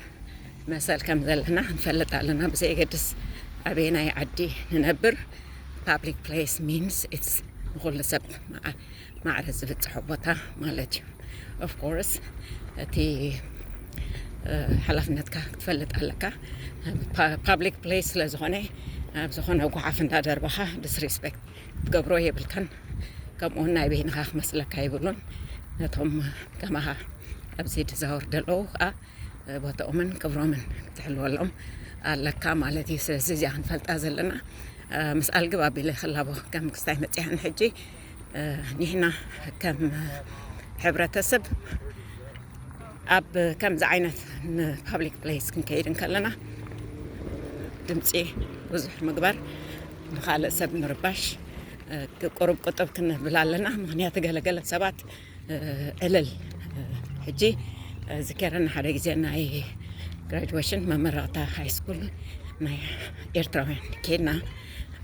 መሰል ከም ዘለና ንፈልጥ ኣለና ብዘየገድስ ኣበየናይ ዓዲ ንነብር ፓብሊክ ፕሌስ ሚንስ ኢትስ ንኩሉ ሰብ ማዕረ ዝብጽሖ ቦታ ማለት እዩ ኦፍ ኮርስ እቲ ሓላፍነትካ ክትፈልጥ ኣለካ ፓብሊክ ፕሌስ ስለ ዝኾነ ኣብ ዝኾነ ጓሓፍ እንዳደርበኻ ዲስሪስፔክት ክትገብሮ የብልካን ከምኡውን ናይ በይንኻ ክመስለካ የብሉን ነቶም ከማኻ ኣብዚ ድዛወር ደለዉ ከዓ ቦታኦምን ክብሮምን ክትሕልወሎም ኣለካ ማለት እዩ ስለዚ እዚኣ ክንፈልጣ ዘለና ምስ ኣልግብ ኣቢለ ክላቦ ከም ክስታይ መፅያን ሕጂ ኒሕና ከም ሕብረተሰብ ኣብ ከምዚ ዓይነት ንፓብሊክ ፕሌስ ክንከይድ እንከለና ድምፂ ብዙሕ ምግባር ንኻልእ ሰብ ምርባሽ ቁሩብ ቁጥብ ክንብል ኣለና ምክንያቱ ገለገለ ሰባት እልል ሕጂ ዝከረኒ ሓደ ግዜ ናይ ግራጅዌሽን መመረቕታ ሃይስኩል ናይ ኤርትራውያን ኬድና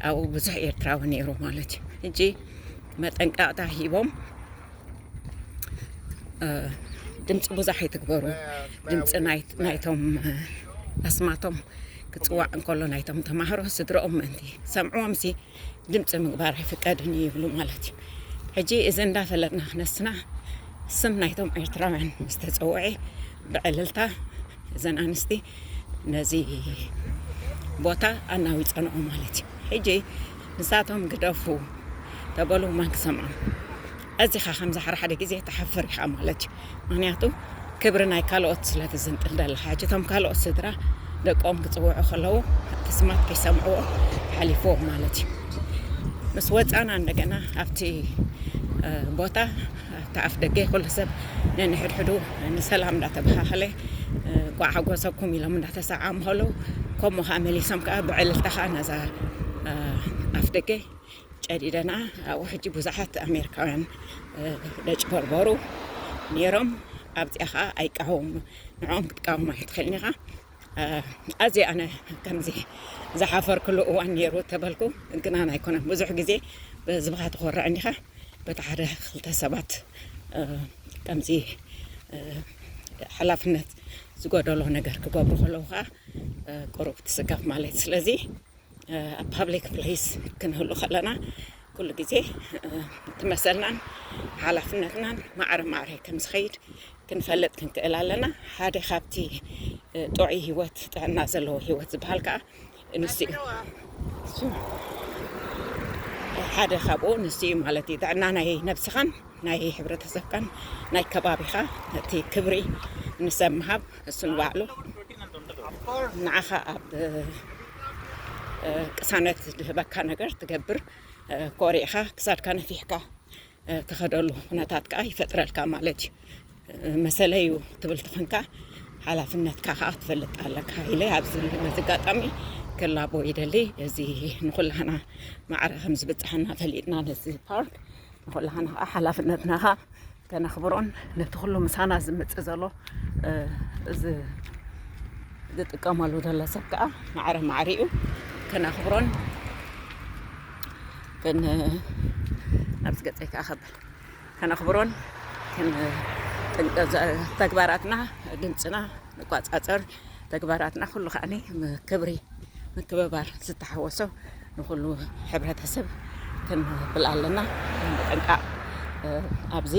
ኣብኡ ብዙሕ ኤርትራዊ ነይሩ ማለት እዩ ሕጂ መጠንቀቕታ ሂቦም ድምፂ ብዙሕ ኣይትግበሩ ድምፂ ናይቶም ኣስማቶም ክፅዋዕ እንከሎ ናይቶም ተማሃሮ ስድረኦም ምእንቲ ሰምዕዎም ሲ ድምፂ ምግባር ኣይፍቀድን እዩ ይብሉ ማለት እዩ ሕጂ እዚ እንዳፈለጥና ክነስና ስም ናይቶም ኤርትራውያን ምስ ተፀውዐ ብዕልልታ እዘን ኣንስቲ ነዚ ቦታ ኣናዊፀንኦ ማለት እዩ ሕጂ ንሳቶም ግደፉ ተበሉ ማን ክሰምዖም ኣዚኻ ከምዚ ሓደ ሓደ ግዜ ትሓፍር ኢኻ ማለት እዩ ምኽንያቱ ክብሪ ናይ ካልኦት ስለ ትዝንጥል ዘለኻ ሕጂ እቶም ካልኦት ስድራ ደቆም ክጽውዑ ከለዉ እቲ ስማት ከይሰምዕዎ ሓሊፍዎም ማለት እዩ ምስ ወጻና እንደገና ኣብቲ ቦታ ኣብቲ ኣፍ ደገ ኩሉ ሰብ ነንሕድሕዱ ንሰላም እንዳተበኻኸለ ጓዕ ሓጎሰኩም ኢሎም እንዳተሰዓሙ ከለዉ ከምኡ ከዓ መሊሶም ከዓ ብዕልልታ ከዓ ነዛ ኣፍ ደገ ጨዲደና ኣብኡ ሕጂ ብዙሓት ኣሜሪካውያን ደጭበርበሩ ነይሮም ኣብዚኣ ከዓ ኣይቃወሙ ንዕኦም ክትቃወሙ ኣይትኽእልን ኢኻ ኣዝየ ኣነ ከምዚ ዝሓፈርክሉ እዋን ነይሩ ተበልኩ ግናን ኣይኮነን ብዙሕ ግዜ ብህዝብኻ ትኾርዕ እንዲኻ በቲ ሓደ ክልተ ሰባት ከምዚ ሓላፍነት ዝጎደሎ ነገር ክገብሩ ከለዉ ከዓ ቅሩብ ትስከፍ ማለት ስለዚ ኣብ ፓብሊክ ፕሌስ ክንህሉ ከለና ኩሉ ግዜ እቲ መሰልናን ሓላፍነትናን ማዕረ ማዕረ ከም ዝኸይድ ክንፈልጥ ክንክእል ኣለና ሓደ ካብቲ ጥዑይ ሂወት ጥዕና ዘለዎ ሂወት ዝበሃል ከዓ ንሱ እዩ ሓደ ካብኡ ንሱ እዩ ማለት እዩ ጥዕና ናይ ነብስኻን ናይ ሕብረተሰብካን ናይ ከባቢኻ እቲ ክብሪ ንሰብ ምሃብ እሱ ንባዕሉ ንዓኻ ኣብ ቅሳነት ዝህበካ ነገር ትገብር ኮሪዕኻ ክሳድካ ነፊሕካ ትኸደሉ ኩነታት ከዓ ይፈጥረልካ ማለት እዩ መሰለዩ ትብል ትኾንካ ሓላፍነትካ ከዓ ትፈልጥ ኣለካ ኢለ ኣብዚ መዝጋጣሚ ክላቦ ይደሊ እዚ ንኩላህና ማዕረ ከም ዝበፅሓና ፈሊጥና ነዚ ፓርክ ንኩላህና ከዓ ሓላፍነትና ከዓ ከነኽብሮን ነቲ ኩሉ ምሳና ዝመጽእ ዘሎ ዝጥቀመሉ ዘሎ ሰብ ከዓ ማዕረ ማዕሪኡ ከነኽብሮን ኣብዚ ገፀይ ከዓ ከብል ከነኽብሮን ተግባራትና ድምፅና ንቋፃፀር ተግባራትና ኩሉ ከዓኒ ክብሪ ምክብባር ዝተሓወሶ ንኩሉ ሕብረተሰብ ከነብል ኣለና። ምጥንቃቅ ኣብዚ